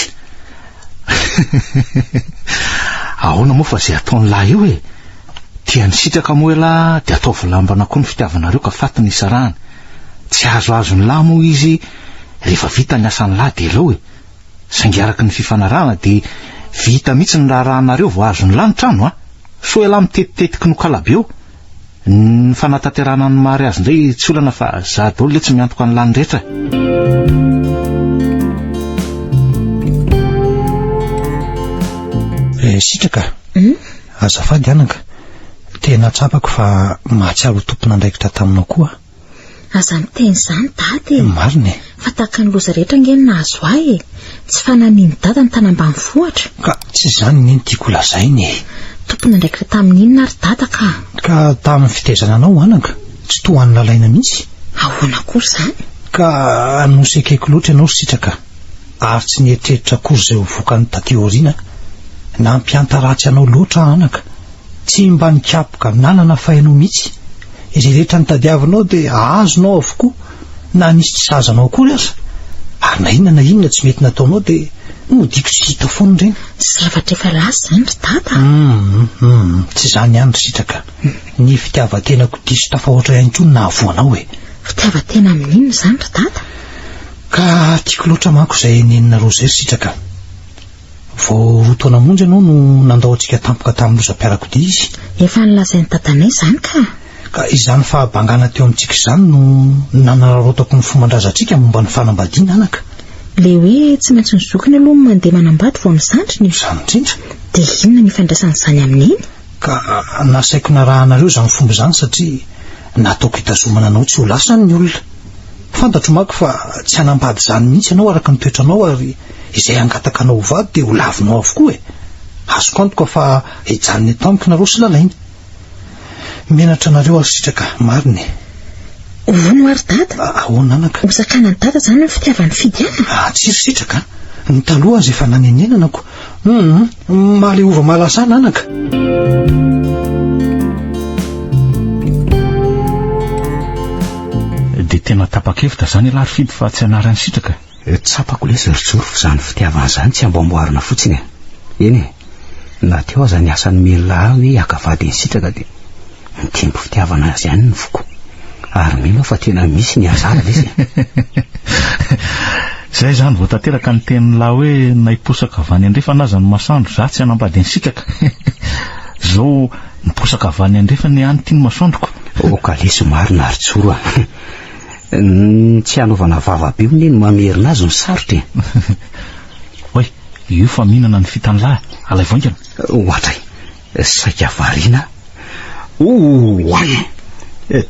Ahoana moa fa izay ataon'ny lahy eo e. Tiany sitraka moa ialahy dia ataovy lambana koa ny fitiavanareo ka faty ny isarahana. Tsy azoazon'ny lahy moa izy rehefa vita ny asan'ny lahy dia aleo e. Saingy araka ny fifanarahana dia vita mihitsy ny raharahanareo vao azo ny lanitra ano a! Sao ialahy mitetitetiky nokalabe eo? Ny fanatanterahana ny mari azy indray tsy olana fa za daolo letsy miantoka ny lany rehetra e! Eh, sitraka, hmm? azafady anaka, tena tsapako fa mahatsiaro ho tompon'andraikitra taminao koa. Aza miteny izany dada e. Marina e. Fa tahaka ny loza rehetra ange ny nahazo ahy e. Tsy fananini dada ny tany ambanivohitra. Ka tsy izany anie ny tiako ho lazaina e. Tompon'andraikitra tamin'ny inona ary dada ka? Ka tamin'ny fitaizana anao anaka, tsy toa an'i Lalaina mihitsy. Ahoana akory izany? Ka nosekeko loatra ianao ry Sitraka ary tsy nieritreritra akory izay ho vokany taty aoriana. Nampiantaratsy anao loatra aho anaka. Tsy mba nikapoka nanana fahy anao mihitsy. Izay rehetra notadiavinao dia azonao avokoa na nisy tsy sahaza anao akory aza, ary na inona na inona tsy mety nataonao dia nodiako tsy hita foana ireny. Zavatra efa lasa izany ry Dada a! Hum! Tsy izany ihany ry Sitraka, ny fitiavan-tenako diso tafahoatra ihany koa no nahavoa anao e! Fitiavan-tena amin'inona izany ry Dada? Ka tiako loatra manko izay nenina Roger ry Sitraka. Vao roa taona monja ianao no nandao antsika tampoka tamin'ny lozam-piarakodia izy. Efa nolazain'i Dadanay izany ka! Ka izany fahabangana teo amintsika izany no nanararaotako ny fomban-drazantsika momba ny fanambadiana, anaka. Ilay hoe tsy maintsy ny zokiny aloha no mandeha manambady vao ny zandriny? Izany indrindra! Dia inona ny ifandraisan'izany amin'iny? Ka nasaiko narahanareo izany fomba izany satria nataoko hitazomana anao tsy ho lasany ny olona. Fantatro manko fa tsy hanambady izany mihitsy ianao araka ny toetranao ary izay hangataka anao ho vady dia ho lavinao avokoa e! Azoko antoka fa hijanona eto amiko nareo sy Lalaina. Menatra anareo ary sitraka marina e! Hono ary dada? Ahoana anaka? Hosakanan'i dada izany ny fitiavany Fidiana? Tsy ry sitraka a! Ny taloha aza efa nanenenanako Humm malehova malasa nanaka. Dia tena tapa-kevitra izany ialahy ry Fiby fa tsy hanary an'i Sitraka e. Eh, tsapako lesy ry Joro fa izany fitiavana izany tsy amboamboarina fotsiny e. Eny e, na teo aza ny asan'i Mella hoe haka vady an'i Sitraka dia. Mitempo fitiavana azy ihany ny foko. Ary mino aho fa tena misy ny hasard izy e. Izay izany vao tanteraka ny tenin'lah hoe na hiposaka avy any andrefana aza ny masoandro zah tsy hanambady ansitraka. Izao miposaka avy any andrefana ihany ity ny masoandroko. Oh kalesy marina ry Joro a. Ny tsy hanaovana vava be hono e no mamerina azy no sarotra e. Oay, io fa mihinana ny fitan'lah, alaivo haingana. Ohatray. Saika variana Ouououai!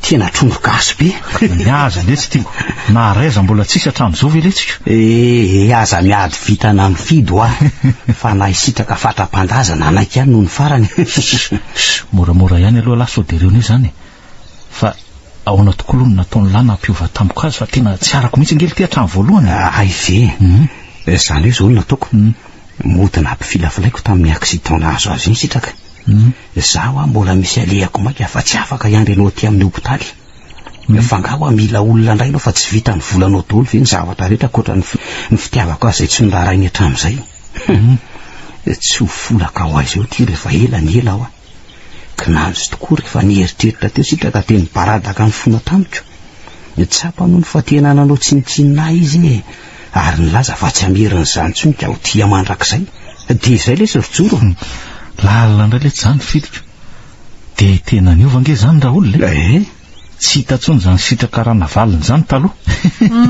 Tena trondro gasy be. Ny azy anie tsy tiako. Naharay aza mbola tsisy hatramin'izao ve letsika? Ee, aza miady vitana mifidy hoa fa na hisitraka fatra-pandaza nanaiky ihany nony farany. Shh, moramora ihany aloha lah sao dia reo anie izany e. Fa ahoana tokoa aloha no nataon'i Lana hampiova tampoka azy fa tena tsy arako mihitsy ange ity hatramin'ny voalohany e! Hay ve e! Izany hoe izao no nataoko, mody nampifilafilaiko tamin'ny accident nahazo azy iny sitraka. Izaho ho'a mbola misy alehako maika fa tsy afaka hiandry anao aty amin'ny hopitaly. Fa angaha ho'a mila olona indray ianao fa tsy vitan'ny volanao daholo ve ny zavatra rehetra ankoatra ny fitiavako azy izay tsy noraharainy hatramin'izay? Hum! Tsy ho folaka ho aiza eo ity rehefa ela ny ela ho'a. Kinanjo tokoa rehefa nieritreritra teo sitraka dia nibaradaka ny fona tamiko. Nitsapa nony fa tena nanao tsinontsinona ahy izy e, ary nilaza fa tsy hamerina izany intsony ka ho tia mandrakizay. Dia izay ilay izy ry Joro e! Lalina indray letsy izany ny fidiko. Dia tena niova ange izany Raoul e! Tsy hita tsony zany sitraka ranavalona zany taloha.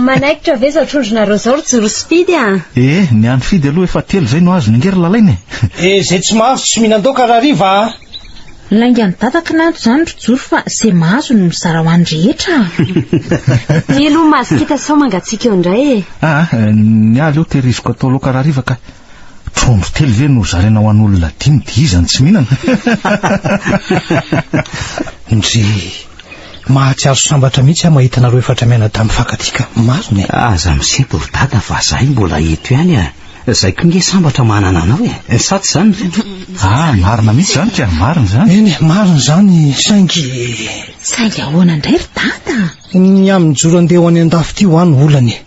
Manaikitra ve zao trondronareo zao ry joro sy fidy a? Ee, ny any fidy aloha efa telo zay no azony ange ry lalaina e! Dia izay tsy mahazo tsy mihinandoaka rahariva a! Lainga ny dada kinanjo zany ry joro fa ze mahazo no mizara ho any rehetra a! Telo mahazo kita sao mangatsiaka eo indray e! Aa, ny ahy aleo tehiriziko atao laoka rahariva kay! Trondro telo ve no zaraina ho an'olona dimy dia iza no tsy mihinana? Ndry, mahatsiaro sambatra mihitsy aho mahita anareo efatra mianadahy mifankatia ka. Marina e. Aza misepo ry dada fa zahay mbola eto ihany a. Zay koa nge sambatra manana anao e. Sa tsy zany ry reto? Ah, marina mihitsy zany ka, marina zany. Eny e, marina zany saingy. Saingy ahoana ndray ry dada? Ny amin'ny mijoro andeha ho any andafy ity hoa no olana e.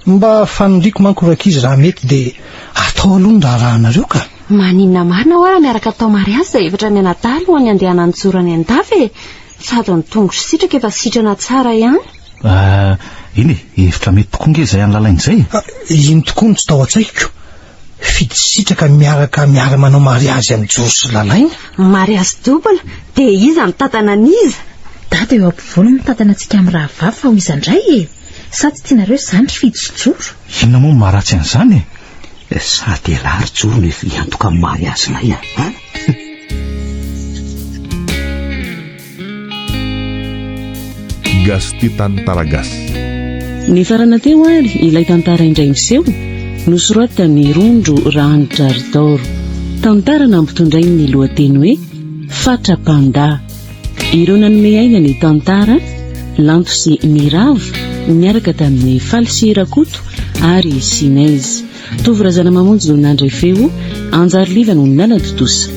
Mba faniriako manko rankizy raha mety dia atao aloha ny raharahanareo ka. Maninona marina hoa raha miaraka atao mariazy izay efatra mianadahy alohan'ny handehanany mijoro any an-dafy e! Sady ny tongotr'i Sitraka efa sitrana tsara ihany. Ah, eny e, hevitra mety tokoa ange izay any lalaina izay e! Iny tokoa no tsy tao an-tsaiko. Fitsitsitsaka miaraka miara manao mariazy am joro sy lalaina? Mariazy double de iza mitantana an'iza? Dada eo ampovoany mitantana antsika am rahavavy fa ho iza ndray e? Sa tsy tianareo zany ry fitsijoro? Inona moa no maharatsy an'izany e? Sa dia lah ry joro no efa hiantoka ny mariazinay a? Gasy tia tantara gasy. Nifarana teo ary ilay tantara indray miseho, nosoratan'i Rondro Rahanitrador. Tantara nampitondrain'ny lohateny hoe Fatra Panda. Ireo nanome aina ny tantara, Lanto sy Miravo, niaraka tamin'i Faly sy Rakoto ary Sinez. Tovo Razanamamonjy no nandray feo, Anjary Liva no nanatontosa.